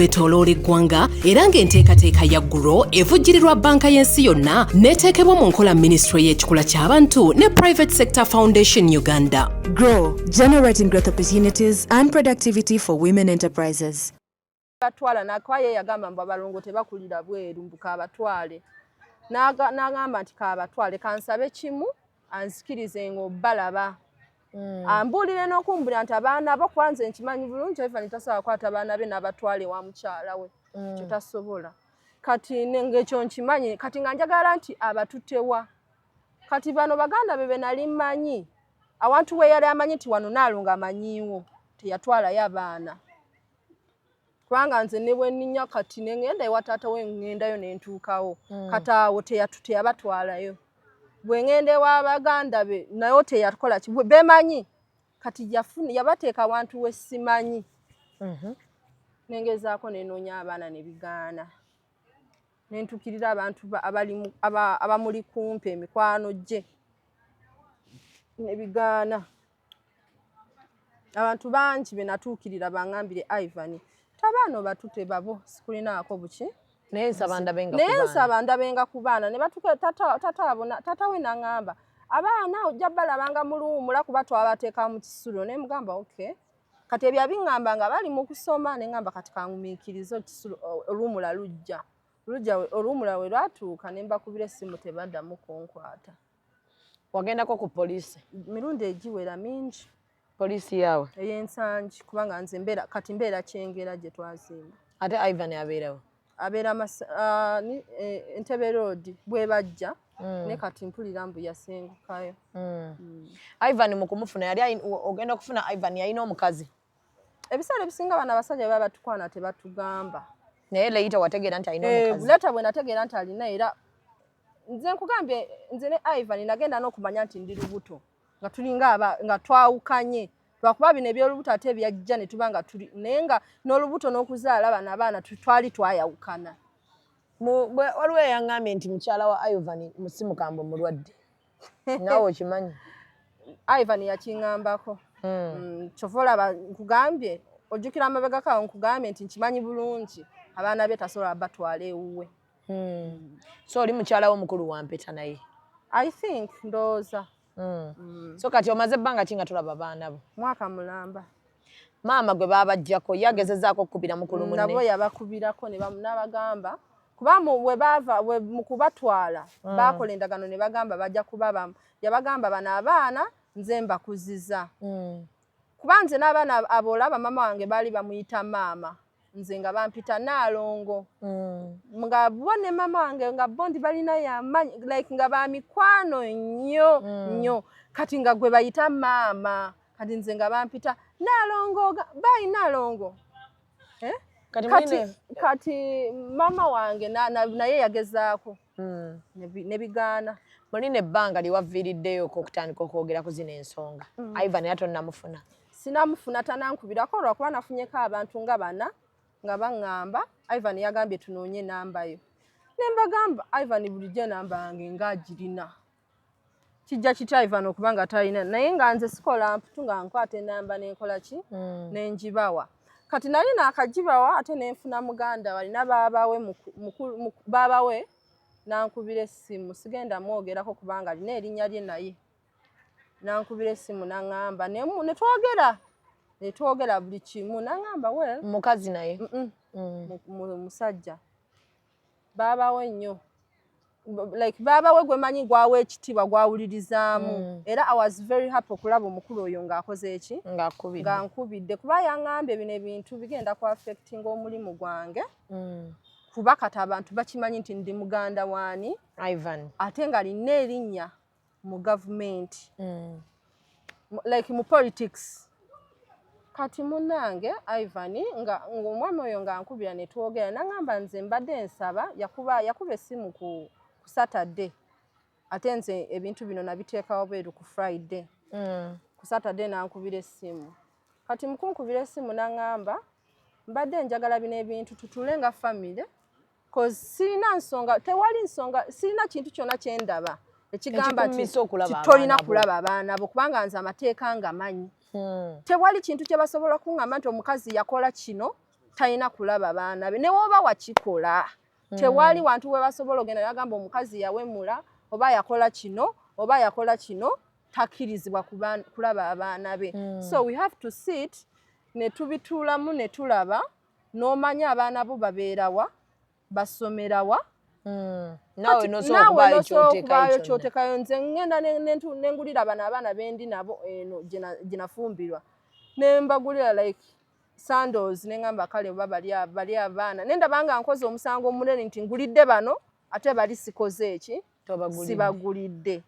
E: kwetoloola eggwanga era ng'enteekateeka ya guro evujjirirwa banka y'ensi yonna n'eteekebwa mu nkola minisitule y'ekikula ky'abantu ne private sector foundation uganda grow
F: generating growth opportunities and productivity for women enterprises batwala
H: nakwaye yagamba mbu abalongo tebakulira bweru mbu kabatwale n'agamba nti kabatwale kansabe kimu anzikirize ng'obalaba Mm. ambuulire n'okumbulira nti abaana bo kuba nze nkimanyi bulungi ivan tasobola kukwata abaana be n'abatwala ewa mukyala we mm. kyo tasobola kati ngekyo nkimanyi kati nga njagala nti abatutewa kati bano baganda be benali mmanyi awantu we yali amanyi nti wano naalonga amanyiiwo teyatwalayo abaana kubanga nze ne bwe nninya kati ne ŋŋenda ewa taata we ŋŋendayo ne ntuukawo hmm. kati awo teyatu teyabatwalayo bwe ŋŋenda ewa baganda be nayo teyakola ki bemanyi kati yafuna yabateeka wantu we simanyi mhm. ne ngezaako ne noonya abaana ne bigaana ne ntuukirira abantu abamuli kumpi emikwano gye ne bigaana abantu bangi be natuukirira bangambire ivan tabaana obatute babo sikulinaako buki naye
B: nsaba ndabenga ku baana ne batuka tata we nangamba abaana ojja balabanga muluwumula kuba twabateeka mu kisulo naye mugamba okay kati ebyo abiŋŋamba nga bali mu kusoma ne ŋŋamba kati kangumiikirize oluwumula lujja oluwumula we lwatuuka ne mbakubira essimu tebaddamu kunkwata wagendako
H: ku poliisi mirundi egiwera mingi poliisi yaawe
B: eyensangi kubanga
H: nze mbeera kati mbeera kyengera gye twazimba ate ivan abeerawo
B: abeera ah,
H: eh, entebe roodi bwe bajja mm. ne kati mpulira mbu yasengukayo mm. mm.
B: ivan mu kumufuna yali ogenda okufuna ivan yalina omukazi ebiseera
H: ebisinga bano abasajja baba batukwana tebatugamba naye leyita
B: wategeera nti alina eh, omukazi leta bwe nategeera nti
H: alina era nze nkugambye nze ne ivan nagenda n'okumanya nti ndi lubuto nga tulinga aba nga twawukanye lwakuba bino ebyolubuto ate byajja ne tuba nga tuli naye nga n'olubuto n'okuzaala bano abaana twali twayawukana
B: waliwo eyaŋŋambye nti mukyala wa ivan musimukambo mulwadde nawe okimanyi ivan
H: yakingambako hmm. mm, kyova olaba nkugambye ojjukira amabega kawo nkugambye nti nkimanyi bulungi abaana be tasobola batwala ewuwe hmm.
B: so oli mukyalawo omukulu wampeta naye i think
H: ndowooza hmm. so
B: kati omaze ebbanga ki nga tulaba abaana bo mwaka mulamba
H: Maama gwe
B: baabaggyako ye agezezaako okukubira mukulu munne. Nabo yabakubirako ne
H: n'abagamba kuba we baava mu kubatwala hmm. baakola endagaano ne bagamba bajja kubabamu. Yabagamba bano abaana nze mbakuziza hmm. kuba nze n'abaana abolaba maama wange baali bamuyita maama. nze nga bampita naalongo mm. nga bo ne mama wange nga bo ndi balina yamanyi like nga bamikwano nnyo mm. nnyo mm. kati nga gwe bayita maama kati nze nga bampita naalongo bayi naalongo eh? kati, kati, kati mama wange naye na, na yagezaako mm. ne bigaana mulina ebbanga
B: lye wavviiriddeyoko okutandika okwogera ku zino ensonga mm. ivan era tonnamufuna sinamufuna
H: tanankubirako olwakuba nafunyeko abantu nga bana nga baŋŋamba ivan yagambye tunoonye enamba yo ne mbagamba ivan bulijjo enamba yange ngaagirina kijja kitya ivan okuba nga talina naye nga nze sikola mputu nga nkwata enamba nenkola ki mm. nenjibawa kati nali nakajibawa ate nenfuna muganda walina babawe babawe nankubira essimu sigenda mwogerako kubanga alina erinnya lye naye nankubira essimu naŋamba netwogera netwogera buli kimu naŋamba we mukazi naye
B: mm.
H: musajja baabawe nnyo like baabawe gwemanyi gwawa ekitiibwa gwawulirizaamu mm. era i was very happy okulaba omukulu oyo ng'akoze eki nga nkubidde kuba yangambye bino ebintu bigenda ku affectinga omulimu gwange mm. kuba kati abantu bakimanyi nti ndi muganda waani ivan ate
B: nga lina
H: erinnya mu gavumenti mm. like mu politics kati munange ivan nga omwami oyo nga nkubira netwogera nangamba nze mbadde nsaba yakuba yakuba esimu ku ku saturday ate nze ebintu bino nabiteekawo beeru ku friday mm. ku saturday nankubira esimu kati mukunkubira esimu nangamba mbadde njagala bino ebintu tutule nga famire cause sirina nsonga tewali nsonga sirina kintu kyona kyendaba ekigamba titolina kulaba abaana bo kubanga nze amateeka nga manyi hmm. tewali kintu kyebasobola kuŋamba nti omukazi yakola kino talina kulaba baana be newoba wakikola hmm. tewali wantu webasobola ogenda nagamba omukazi yawemula oba yakola kino oba yakola kino takkirizibwa kulaba abaana be hmm. so we have to sit netubituulamu netulaba n'omanya abaana bo babeera wa basomera wa
B: hmm. naawe nosobaayo kyotekayo nze
H: ngenda nengulira bano abaana bendi nabo eno gyenafumbirwa nembagulira like sandos nengamba kale oba bali abaana nendabanga nkoze omusango omunene nti ngulidde bano ate bali sikoze eki sibagulidde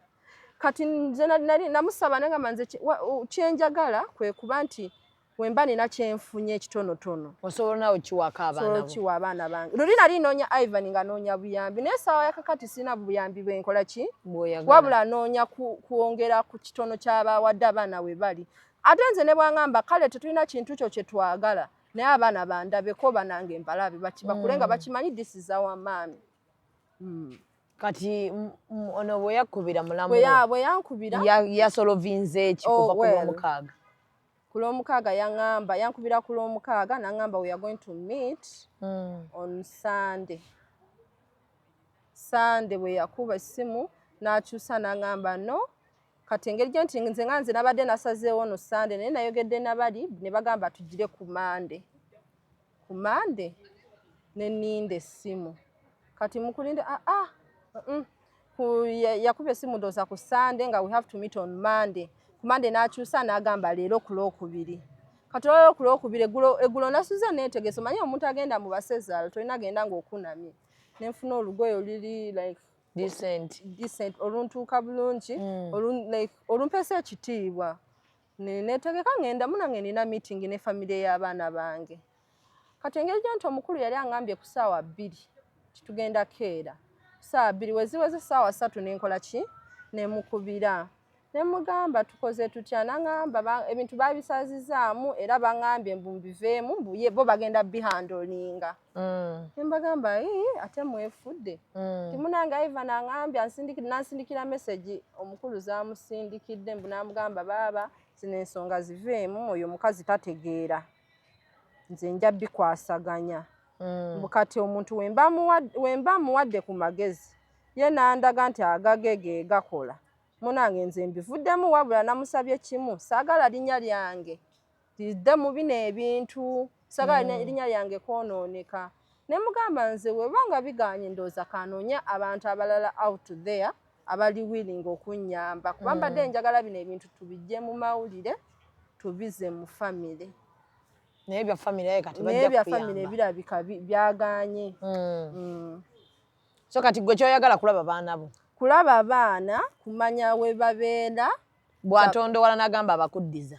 H: kati nze namusaba nengamba nze kyenjagala kwekuba nti Bwe mba nina kye nfunye ekitonotono. Osobola nawe okiwaako
B: abaana bo. Osobola okiwa abaana bange.
H: Luli nali noonya Ivan nga noonya buyambi naye essaawa ya kakati sirina buyambi bwe nkola ki? Wabula noonya kwongera ku kitono ky'abaawadde abaana we bali. Ate nze ne bwangamba kale tetulina kintu kyo kye twagala naye abaana bandabeko banange mbalabe bakibakule nga mm. bakimanyi this is our maami. Mm. kati
B: ono bwe yakubira mulamu bwe yankubira
H: yasolovinze
B: ekikuva oh, ku lwomukaaga ku lwomukaaga
H: yaŋamba yankubira ku lwomukaaga naŋamba weare going to meet mm. on sunday sunday bwe yakuba essimu n'akyusa naŋamba no kati engeri gye nti nze nga nze nabadde nasazeewo no sunday naye nayogedde nabali ne bagamba tugire ku mande ku mande neninda essimu kati mukulinde aa ah, ah, mm, yakuba essimu ndooza ku sande nga we have to meet on mande ku mande n'akyusa n'agamba leero ku lwokubiri kati olwalero ku lwokubiri eggulo nasuze neetegese omanye omuntu agenda mu basezaalo tolina agenda ng'okunamye nenfuna olugoye oluli like decent oluntuuka bulungi mm. olumpeesa ekitiibwa Netegeka ngenda munange nina meeting ne family ya baana bange. Kati engeri gyanti omukulu yali angambye ku saawa bbiri titugenda keera. Saawa bbiri weziweze saawa satu nenkola ki nemukubira. Nemugamba tukoze tutya nangamba ebintu babisazizaamu era bangambye mbu mbiveemu mbu bo bagenda bihandolinga. mm. nembagamba ate mwefudde mm. timunanga iva nangambya nansindikira mesegi omukulu zamusindikidde mbu namugamba baaba zino ensonga ziveemu oyo omukazi tategeera nze nja bikwasaganya mm. mbu kati omuntu wemba muwadde ku magezi ye nandaga nti agage ge gakola munange nze mbivuddemu wabula namusabye kimu saagala linnya lyange Dda mu bino ebintu sagala mm. erinnya lyange kwonooneka ne mugamba nze weba nga bigaanye ndowooza kanoonya abantu abalala out there abali willing okunnyamba kuba mm. mbadde njagala bino ebintu tubijje mu mawulire tubize mu famire naye
B: bya famire ye kati bajja bya famire
H: birabika byagaanye mm. mm.
B: so kati gwe kyoyagala kulaba baana bo kulaba baana
H: kumanya we babeera bw'atondowala
B: n'agamba abakuddiza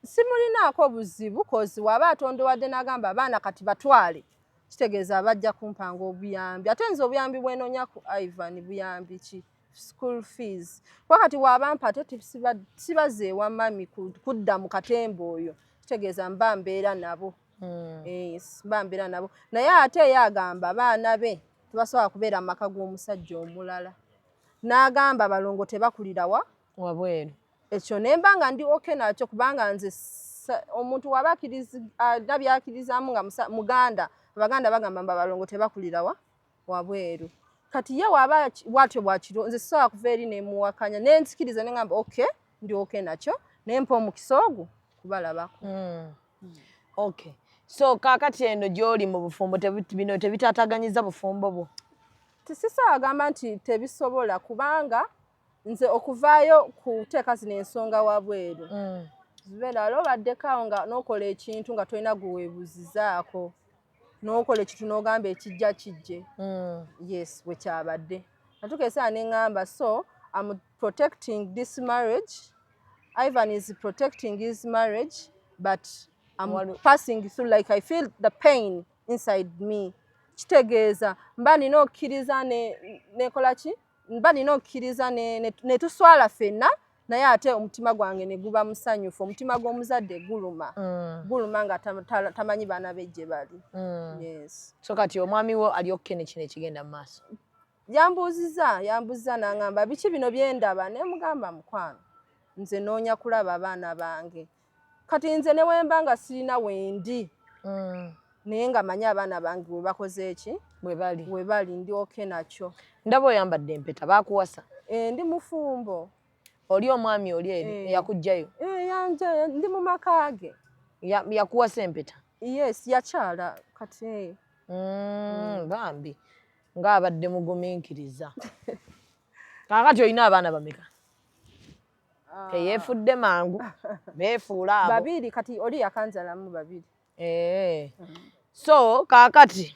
H: simulinaako buzibu kozi waba atondowadde n'agamba abaana kati batwale kitegeeza bajja kumpanga obuyambi ate nze obuyambi bwenoonya ku ivan buyambi ki school fees kuba kati wabampa ate sibazeewa mami kudda mu katemba oyo kitegeeza mba mbeera nabo hmm. eh, mba mbeera nabo naye ate eyo agamba baana be tebasobola kubeera mu maka g'omusajja omulala n'agamba abalongo tebakulira wa wabweru
B: ekyo ne mba
H: nga ndi oke nakyo kubanga nze omuntu waba alina byakirizaamu nga muganda abaganda bagamba mba balongo tebakulira wa wabweru kati ye waba watyo bwakiro nze sisobola kuva eri nemuwakanya nenzikiriza nengamba oke ndi oke nakyo nempa omukisa ogwo kubalabako mm. Hmm.
B: Okay. So kakati eno gyoli mu bufumbo bino tebitataganyiza bufumbo bwo? Tisisa
H: agamba nti tebisobola kubanga nze okuvaayo kuteeka zino ensonga wabweru mm. zibeera wali obaddeko awo nga nokola ekintu nga tolina gwewebuzizaako nokola ekintu nogamba ekijja kijje mm. yes wekyabadde natuka esaa neŋamba so protecting this marriage Ivan is protecting his marriage but I'm Walu. passing through like I feel the pain inside me kitegeeza mba nina okkiriza nekola ki mba nina okkiriza netuswala ne, ne fenna naye ate omutima gwange ne guba musanyufu omutima gw'omuzadde guluma mm. guluma nga tamanyi baana be gye bali mm. yes. so kati omwami
B: wo ali okkene kino ekigenda mu maaso yambuuziza yambuuziza
H: n'aŋamba biki bino bye ndaba ne mugamba mukwano nze noonya kulaba abaana bange kati nze ne wemba nga sirina wendi mm. naye nga manyi abaana bange we bakoze eki webali webali
B: ndi oke
H: nakyo ndaba oyambadde
B: empeta bakuwasa eh, ndi mufumbo
H: oli omwami
B: oli eri eh. eyakujjayo eh, yanja ndi
H: mu maka ge yakuwasa
B: empeta yes yakyala
H: kati mm, mm.
B: bambi nga abadde muguminkiriza kakati olina abaana bameka ah. teyefudde mangu befuula abo babiri kati oli
H: yakanzalamu babiri eh. so
B: kakati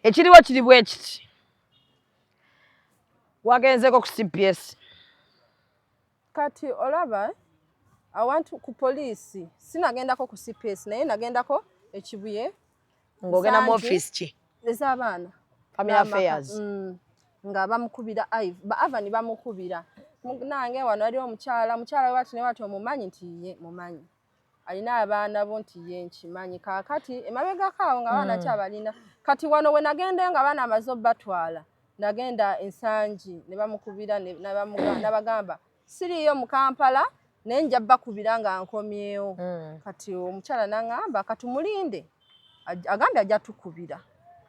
B: ekiriwo kiri bwe kiti wagenzeko ku cps
H: Kati olaba awantu ku poliisi sinagendako ku cps naye nagendako ekibuye ng'ogenda
B: mu ofiisi ki ez'abaana
H: family affairs
B: mm. nga
H: bamukubira iv ba avani bamukubira nange wano waliwo omukyala omukyala wewati ne wati omumanyi nti ye mumanyi alina abaana bo nti ye nkimanyi kaakati emabegako awo nga baana mm. kyabalina kati wano we nagenda nga baana amaze obatwala nagenda ensangi ne bamukubira nabagamba siriiyo mu kampala naye nja bakubira nga nkomyewo mm. kati omukyala nangamba kati mulinde agambye ajja tukubira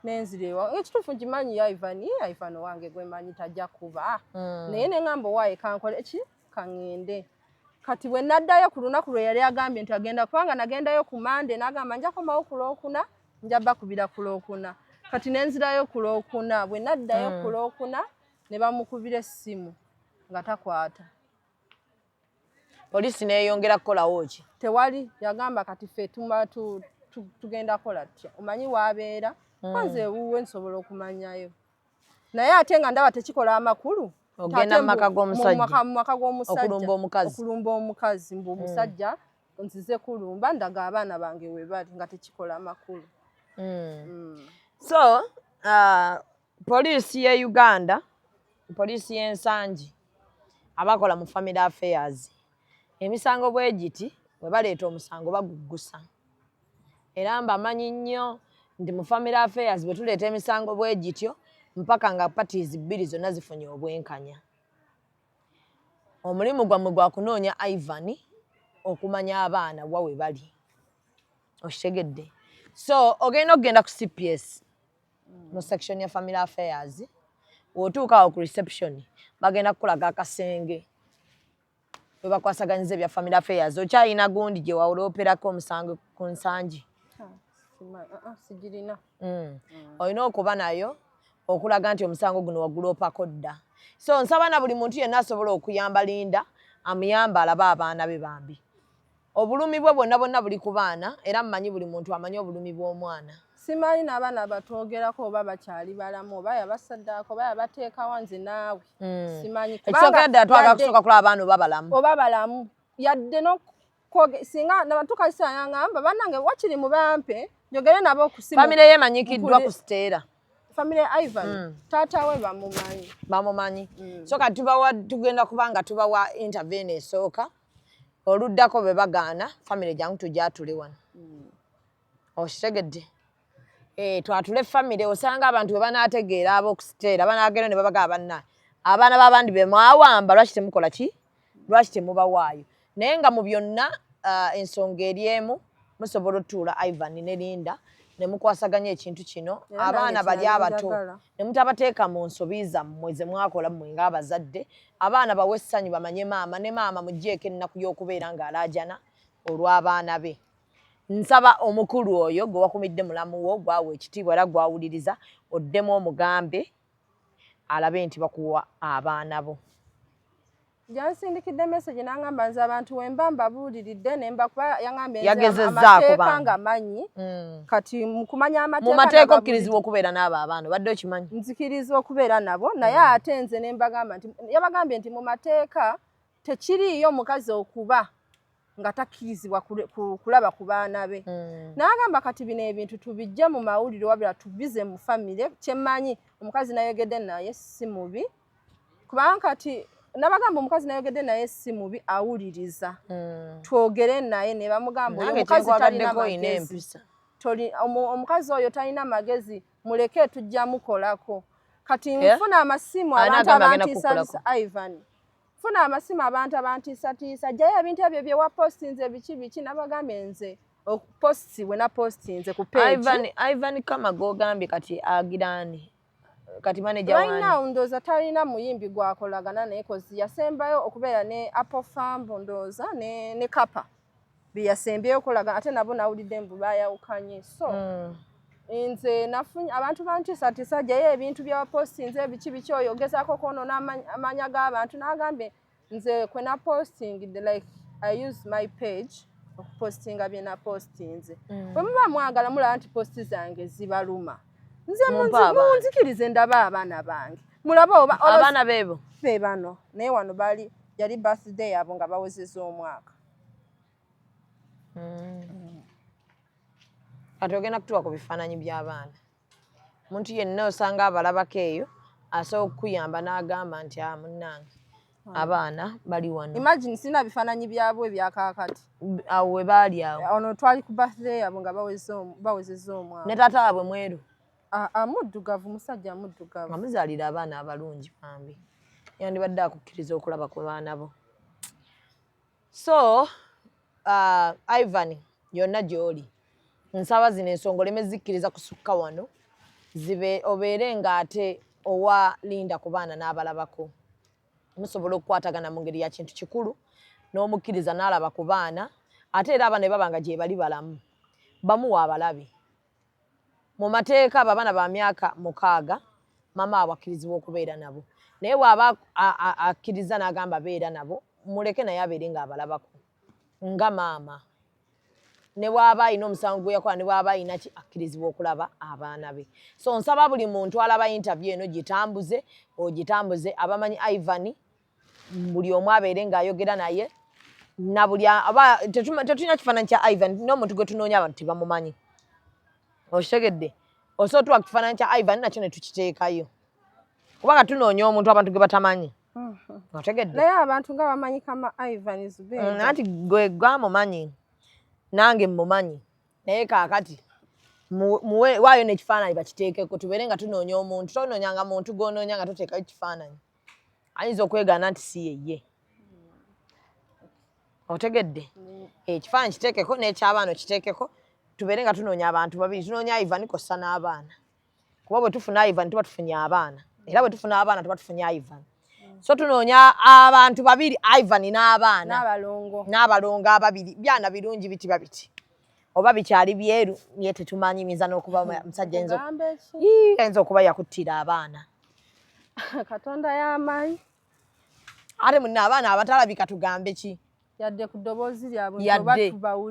H: nenzira ewa ekituufu nkimanyi yaivani yaivani owange gwemanyi tajja kuba mm. naye nengamba owaye kankola eki ka ŋŋende kati bwe naddayo ku lunaku lwe yali agambye nti agenda kubanga nagendayo ku mande n'agamba nja komawo ku lwokuna nja bakubira ku lwokuna kati ne nzirayo ku lwokuna bwe naddayo ku hmm. lwokuna ne bamukubira essimu nga takwata
B: poliisi neeyongera kukolawo ki tewali yagamba
H: kati fe tugenda kola tutya omanyi waabeera hmm. kwanze ewuwe nsobola okumanyayo naye ate nga ndaba tekikola amakulu ogenda mu maka
B: g'omusajjaokulumba omukazi okulumba
H: omukazi mbu omusajja hmm. nzize kulumba ndaga abaana bange we bali nga tekikola amakulu hmm. Hmm. so
B: uh, poliisi ye uganda poliisi y'ensangi abakola mu family affairs emisango bwegiti webaleeta omusango baguggusa era mbamanyi nnyo nti mu family affairs bwe tuleeta emisango bwegityo mpaka nga parties bbiri zonna zifunye obwenkanya omulimu gwammwe gwa kunoonya ivan okumanya abaana wa we bali okitegedde so ogenda okugenda ku cps mu section ya family affairs wotuuka awo ku reception bagenda kukulaga akasenge webakwasaganyiza ebya family affairs okyalina gundi gyewawulooperako omusango ku nsangi sigirina
H: mm. mm. olina
B: okuba nayo okulaga nti omusango guno waguloopako dda so nsaba na buli muntu yenna asobola okuyamba linda amuyamba alabe abaana be bambi Obulumi bwe bwonna bwonna buli ku baana era mmanyi buli muntu amanyi obulumi bw'omwana. Simanyi n'abaana
H: abatwogerako oba bakyali balamu oba yabasaddaako oba yabateekawa nze naawe hmm. simanyi. Ekisookera ddala twagala
B: kusooka kulaba abaana oba balamu. Oba balamu yadde
H: n'okwoge singa nabatuuka kiseera yangamba bannange wakiri mu bampe njogere nabo okusimu. Famire ye emanyikiddwa
B: ku Siteera. Famire ya Ivan
H: hmm. taata we bamumanyi. Bamumanyi. Hmm. So kati
B: tubawa tugenda kuba nga tubawa intervene esooka. oluddako bwe bagaana famire jangu tugyatule wano hmm. okitegedde eh, twatule famire osanga abantu bwe banaategeera ab'okusiteera banaagenda ne babaga abanna abaana b'abandi be mwawamba lwaki temukola ki lwaki temubawaayo naye nga mu byonna ah, ensonga eri emu musobola otuula ivan ne linda ne mukwasaganya ekintu kino abaana bali abato ne mutabateeka mu nsobi zammwe ze mwakola mmwe ng'abazadde, abaana bawe essanyu bamanye maama ne maama muggyeeko ennaku y'okubeera ng'alaajana olw'abaana be. Nsaba omukulu oyo gwe wakumidde mulamu wo gwawa ekitiibwa era gwawuliriza oddemu omugambe alabe nti bakuwa abaana bo.
H: Yansindikidde message n'angamba nze abantu we mba mbabuuliridde ne mbakuba yangambye amateeka nga
B: manyi
H: hmm. kati mu kumanya amateeka mu mateeka okkirizibwa okubeera
B: n'abo abaana obadde okimanyi nzikirizibwa okubeera
H: nabo naye hmm. ate nze ne mbagamba nti yabagambye nti mu mateeka tekiriiyo mukazi okuba nga takkirizibwa kulaba ku baana be hmm. n'agamba kati bino ebintu tubijje mu mawulire wabira tubize mu famire kyemmanyi omukazi nayogedde naye si mubi kubanga kati nabagamba omukazi nayogedde naye si mubi awuliriza mm. twogere naye ne bamugamba oyo omukazi talina magezi omukazi oyo talina magezi muleke tujja mukolako kati eh? nfuna amasimu abantu abantiisatiisa ivan funa amasimu abantu abantiisatiisa jjayo ebintu ebyo byewapostinze biki biki nabagambye nze okupositibwe napostinze ku page ivan kama
B: gogambye kati agirani kati manager wani right now ndoza talina
H: muyimbi gwakolagana naye kozi yasembayo okubeera ne apple farm ndoza ne ne kapa biyasembyeyo okolaga ate nabo nawulidde mbu bayawukanye so mm. nze nafunye abantu bantiisatiisa jayo ebintu byawapostinze ebiki biki oyo ogezako kwonona amanya g'abantu nagambye nze kwe na posting the like i use my page okupostinga bye na postinze mm. bwe muba mwagala mulaba nti posti zange zibaluma nze munzikirize ndaba abaana bange mulaba oba abaana bebo fe
B: bano naye
H: wano bali yali birthday yabo nga bawezeza omwaka
B: mm. ati ogenda kutuwa ku bifaananyi by'abaana omuntu yenna osanga abalabako eyo asobola okukuyamba n'agamba nti a ah, munnange hmm. abaana bali wano imagine sina bifaananyi
H: byabwe ebyakaakati awo we baali
B: awo eh, ono twali ku birthday
H: yabwe nga bawezeza omwana ne taata wabwe mweru
B: amuddugavu
H: musajja amuddugavu amuzaalira abaana
B: abalungi bambi yandibadde akukkiriza okulaba ku baana bo so uh, ivan yonna gy'oli nsaba zino ensonga oleme zikkiriza kusukka wano zibe obeere ng'ate owa linda ku baana n'abalabako musobola okukwatagana mu ngeri ya kintu kikulu n'omukkiriza n'alaba ku baana ate era aba ne baba nga gyebali balamu bamuwa abalabi Mu mateeka abo abaana ba myaka mukaaga maama waabwe akkirizibwa okubeera nabo, naye bw'aba akkirizza n'agamba beera nabo, muleke naye abeere ng'abalabako nga maama. Ne bw'aba alina omusango gwe yakola, ne bw'aba alina ki, akkirizibwa okulaba abaana be. So nsaba buli muntu alaba yintaviyu eno gitambuze, ogitambuze abamanyi Ivan. buli omu abeere ng'ayogera naye nabuli aba tetulina kifaananyi kya ivan n'omuntu gwe tunoonya abantu tebamumanyi okitegedde osobola tuwa kifaananyi kya ivan nakyo ne tukiteekayo kubanga tunoonya omuntu abantu gwe batamanyi mm-hmm. otegedde naye abantu nga
H: bamanyi kama ivan mm, anti gwe
B: gwamumanyi nange mmumanyi naye kaakati waayo n'ekifaananyi bakiteekeko tubeere nga tunoonya omuntu tonoonyanga muntu gwonoonya nga toteekayo kifaananyi ayinza okwegaana nti si yeye otegedde ekifaananyi kiteekeko n'ekyabaana okiteekeko tubeere nga tunoonya abantu babiri tunoonya ivan kossa n'abaana kuba bwe tufuna ivan tuba tufunye abaana era bwe tufuna abaana tuba tufunye ivan so tunoonya abantu babiri ivan n'abaana n'abalongo ababiri byana birungi bitiba biti oba bikyali byeru naye tetumanyi nyinza n'okuba musajja enzo enzo okuba yakuttira abaana
H: katonda y'amaanyi
B: ate munna abaana abatalabika tugambe ki yadde ku ddoboozi
H: lyabwe yadde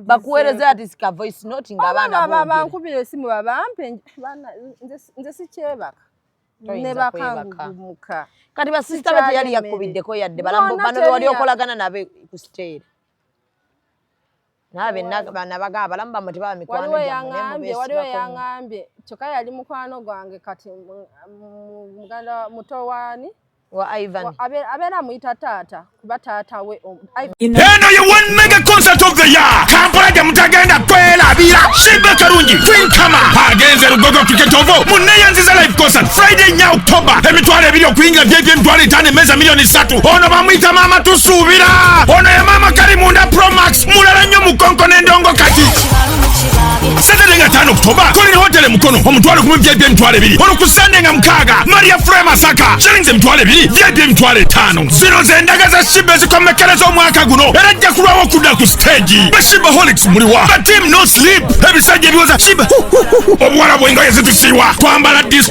B: bakuweereza ati sika voice note nga abaana baba bankubira esimu
H: babampe nze sikyebaka ne bakangugumuka kati basisita
B: be teyali yakkubiddeko yadde balambo bano bewali okolagana nabe ku siteeri waliwo yangambye waliwo yangambye
H: kyokka yali mukwano gwange kati muganda muto waani
B: abeera amuyita
H: taata kuba taata we eno ye
G: one mega concert of the year kampala gye mutagenda kwelabira shibbe kalungi kwinkama agenze lugogo cricket ovo muneyanziza live concert friday nya october emitwalo ebiri okuyingira vyevy'emitwalo etaano emmeeza miliyoni satu ono bamuyita maama tusuubira ono ye maama kali munda promax mulala nnyo mukonko n'endongo kati satade nga tano okutoba kolera hotele mukono omutwalo gumu vip emitwalo ebiri ono ku sande nga mukaaga maria fre masaka shillings emitwalo ebiri vip emitwalo etaano zino zendaga za shiba ezikomekkereza omwaka guno era ajja kulwawo okudda ku siteegi bashiba holics muliwa batim no sleep ebisajja ebiwoza shiba obuwala bwengoye zitusiiwa twambala dis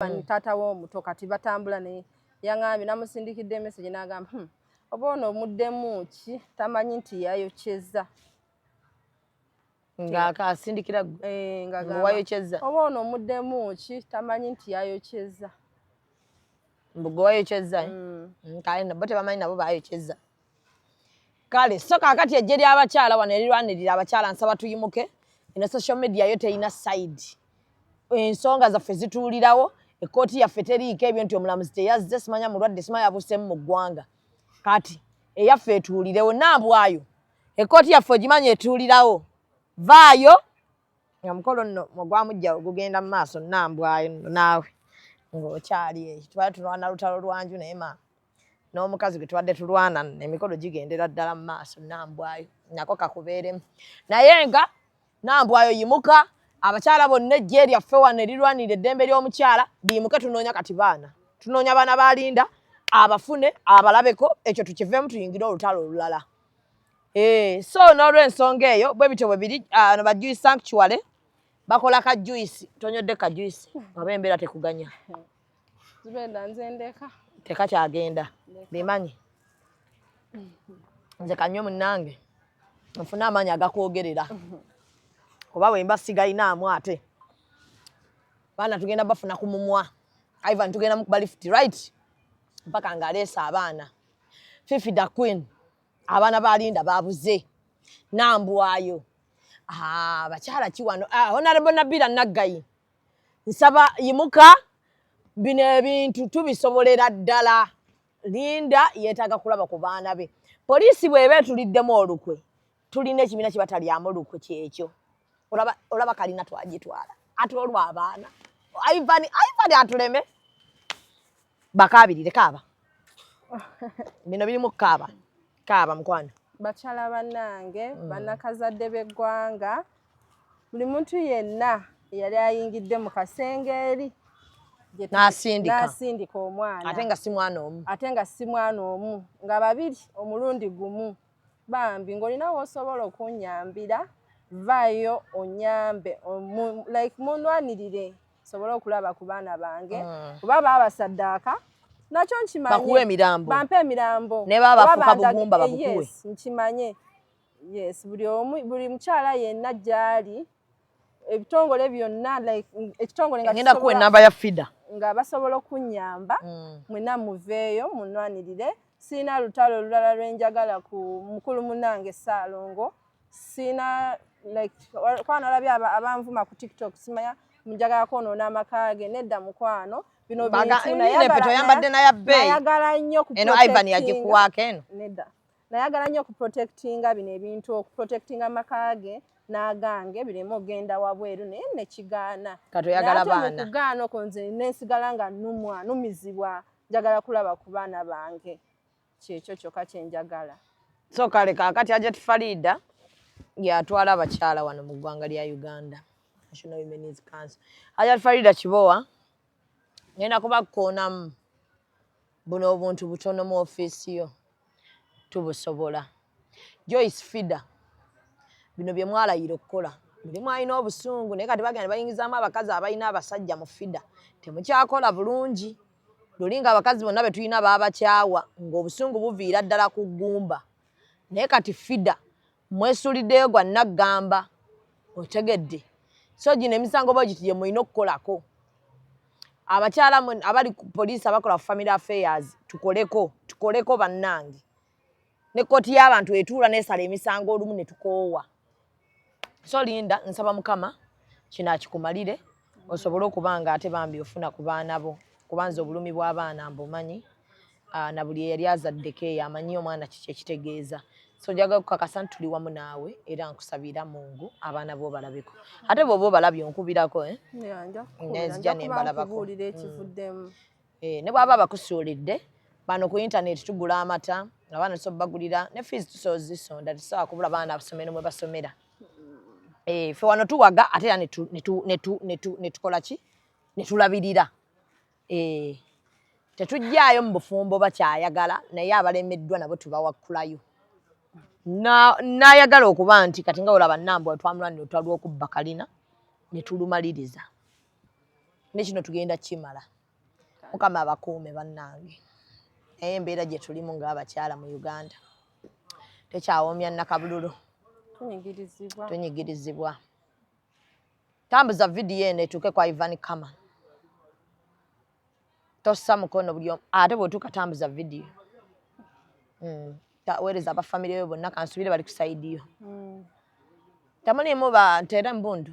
F: mm. taata
H: we omuto kati batambula naye yaŋambye namusindikidde emesegi nagamba hmm, oba ono omuddemu ki tamanyi nti yayokyeza
B: ngaasindikira eh, ngawayokyeza oba ono
H: omuddemu ki tamanyi nti yayokyeza
B: mbugewayokyeza eh? mm. mm, kale nabo tebamanyi nabo bayokyeza kale so kakati ejje lyabakyala wano erirwanirira abakyala nsaba tuyimuke eno social media yo terina side ensonga zaffe zituulirawo ekkooti yaffe teriiko ebyo nti omulamuzi teyazze simanya mulwadde sima yabuseemu mu ggwanga kati eyaffe etuulirewo nambwayo ekkooti yaffe ogimanya etuulirawo vaayo nga mukolo nno ogwamujja ogugenda mu maaso nambwayo naawe ng'okyali eyo tubale tunwana lutalo lwanju naye maama n'omukazi gwe tubadde tulwana emikolo gigendera ddala mu maaso nambwayo nako kakubeeremu naye nga nambwayo yimuka abakyala bonna ejje lyaffe wano erirwanira eddembe ly'omukyala biyimuke tunoonya kati baana tunoonya baana balinda abafune abalabeko ekyo tukiveemu tuyingire olutalo olulala eh, so n'olwensonga eyo bwe bityo bwe biri ah, no bajuyi sanctuary bakola kajuyisi tonyodde kajuyisi oba embeera tekuganya
H: zubeda nze ndeka teka kyagenda
B: bimanyi nze kanywe munange nfuna amaanyi agakwogerera oba wemba sigalinaamu ate baana tugenda bafuna ku mumwa ivan tugenda mukuba lift right mpaka ngaleesa abaana fifi the queen abaana balinda babuze nambwayo ah, bakyala kiwano ah, honarebo nabira naggayi nsaba yimuka bino ebintu tubisobolera ddala linda yeetaaga kulaba ku baana be poliisi bweba etuliddemu olukwe tulina ekibiina kye batalyamu lukwe kyekyo olaba kalina twagitwala ate olwo abaana ivan ivan atuleme bakabirire kaaba bino birimu kaaba kaaba mukwano bakyala
H: banange mm. banakazadde b'eggwanga buli muntu yenna eyali ayingidde mu kasenge eri nasindika omwana ate nga si mwana omu
B: ate nga si mwana omu nga babiri
H: omulundi gumu bambi ng'olina w'osobola okunnyambira vvaayo onnyambe like munnwanirire nsobole okulaba ku baana bange mm. kuba baabasaddaaka nakyo nkimanyibakuwe emirambo bampe
B: emirambo
H: ne baabafuka bugumba
B: babukuwe nkimanye
H: yes buli omu buli mukyala yenna gy'ali ebitongole byonna like ekitongole nga ngenda kuwa enamba ya fida
B: nga basobola
H: okunnyamba mm. mwena muveeyo munnwanirire Sirina lutalo olulala lwe njagala ku mukulu munnange Ssaalongo. Sirina like kuba nalabye abanvuma ku TikTok simanya njagala kwonoona amaka ge nedda mukwano bino bintunayambadde naye abbeeyi nayagala nnyo eno Ivan yagikuwaako
B: eno nedda nayagala
H: nnyo okuprotectinga bino ebintu okuprotectinga amaka ge n'agange bireme ogenda wabweru naye nekigaana katoyagala baana
B: okugaana okwo nze
H: nensigala nga numwa numizibwa njagala kulaba ku baana bange kyekyo kyokka kye njagala so kale
B: kaakati ajat fariida yatwala abakyala wano mu ggwanga lya uganda national women's council ajat fariida kibowa ngenda kubakoonamu buno obuntu butono mu ofiisi yo tubusobola joyce fida bino bye mwalayira okukola muli mwalina obusungu naye kati bagenda bayingizaamu abakazi abalina abasajja mu fida temukyakola bulungi luli nga abakazi bonna betulina baabakyawa ng'obusungu buviira ddala ku ggumba naye kati fida Mwesuliddeyo gwa naggamba otegedde so gino emisango bwegiti gye mulina okukolako abakyala abali ku poliisi abakola ku family affairs tukoleko tukoleko bannange ne kkooti y'abantu etuula nesala emisango olumu ne tukoowa so linda nsaba mukama kino akikumalire osobole okuba nga ate bambi ofuna ku baana bo kubanza obulumi bw'abaana mbumanyi ah, na buli eyali azaddeko eyo amanyi omwana kiki ekitegeeza so njaga kukakasa nti tuli wamu naawe era nkusabira mungu abaana bo obalabeko ate bwoba obalabye onkubirako eh? nzija nembalabako mm. eh, ne bwaba abakusuulidde bano ku intaneti tugula amata abaana tusobagulira ne fees tusozisonda tusobola kubula baana abasomero mwebasomera eh, fe wano tuwaga ate era netukola ki netulabirira eh, tetujjaayo mu bufumbo bakyayagala naye abalemeddwa nabo tubawakkulayo nayagala okuba nti kati nga olaba nambwa twamulwanira otwalwa okubba kalina netulumaliriza nekino tugenda kimala mukama abakuume bannange naye embeera gye tulimu ng'abakyala mu uganda tekyawoomya nakabululu tunyigirizibwa tambuza vidiyo eno etuuke kwa ivan kama tossa mukono buli ate bwetuuka tambuza vidiyo hmm. taweereza abafamire yo bonna kansubire bali kusaidiyo hmm. temulimu bantu era embundu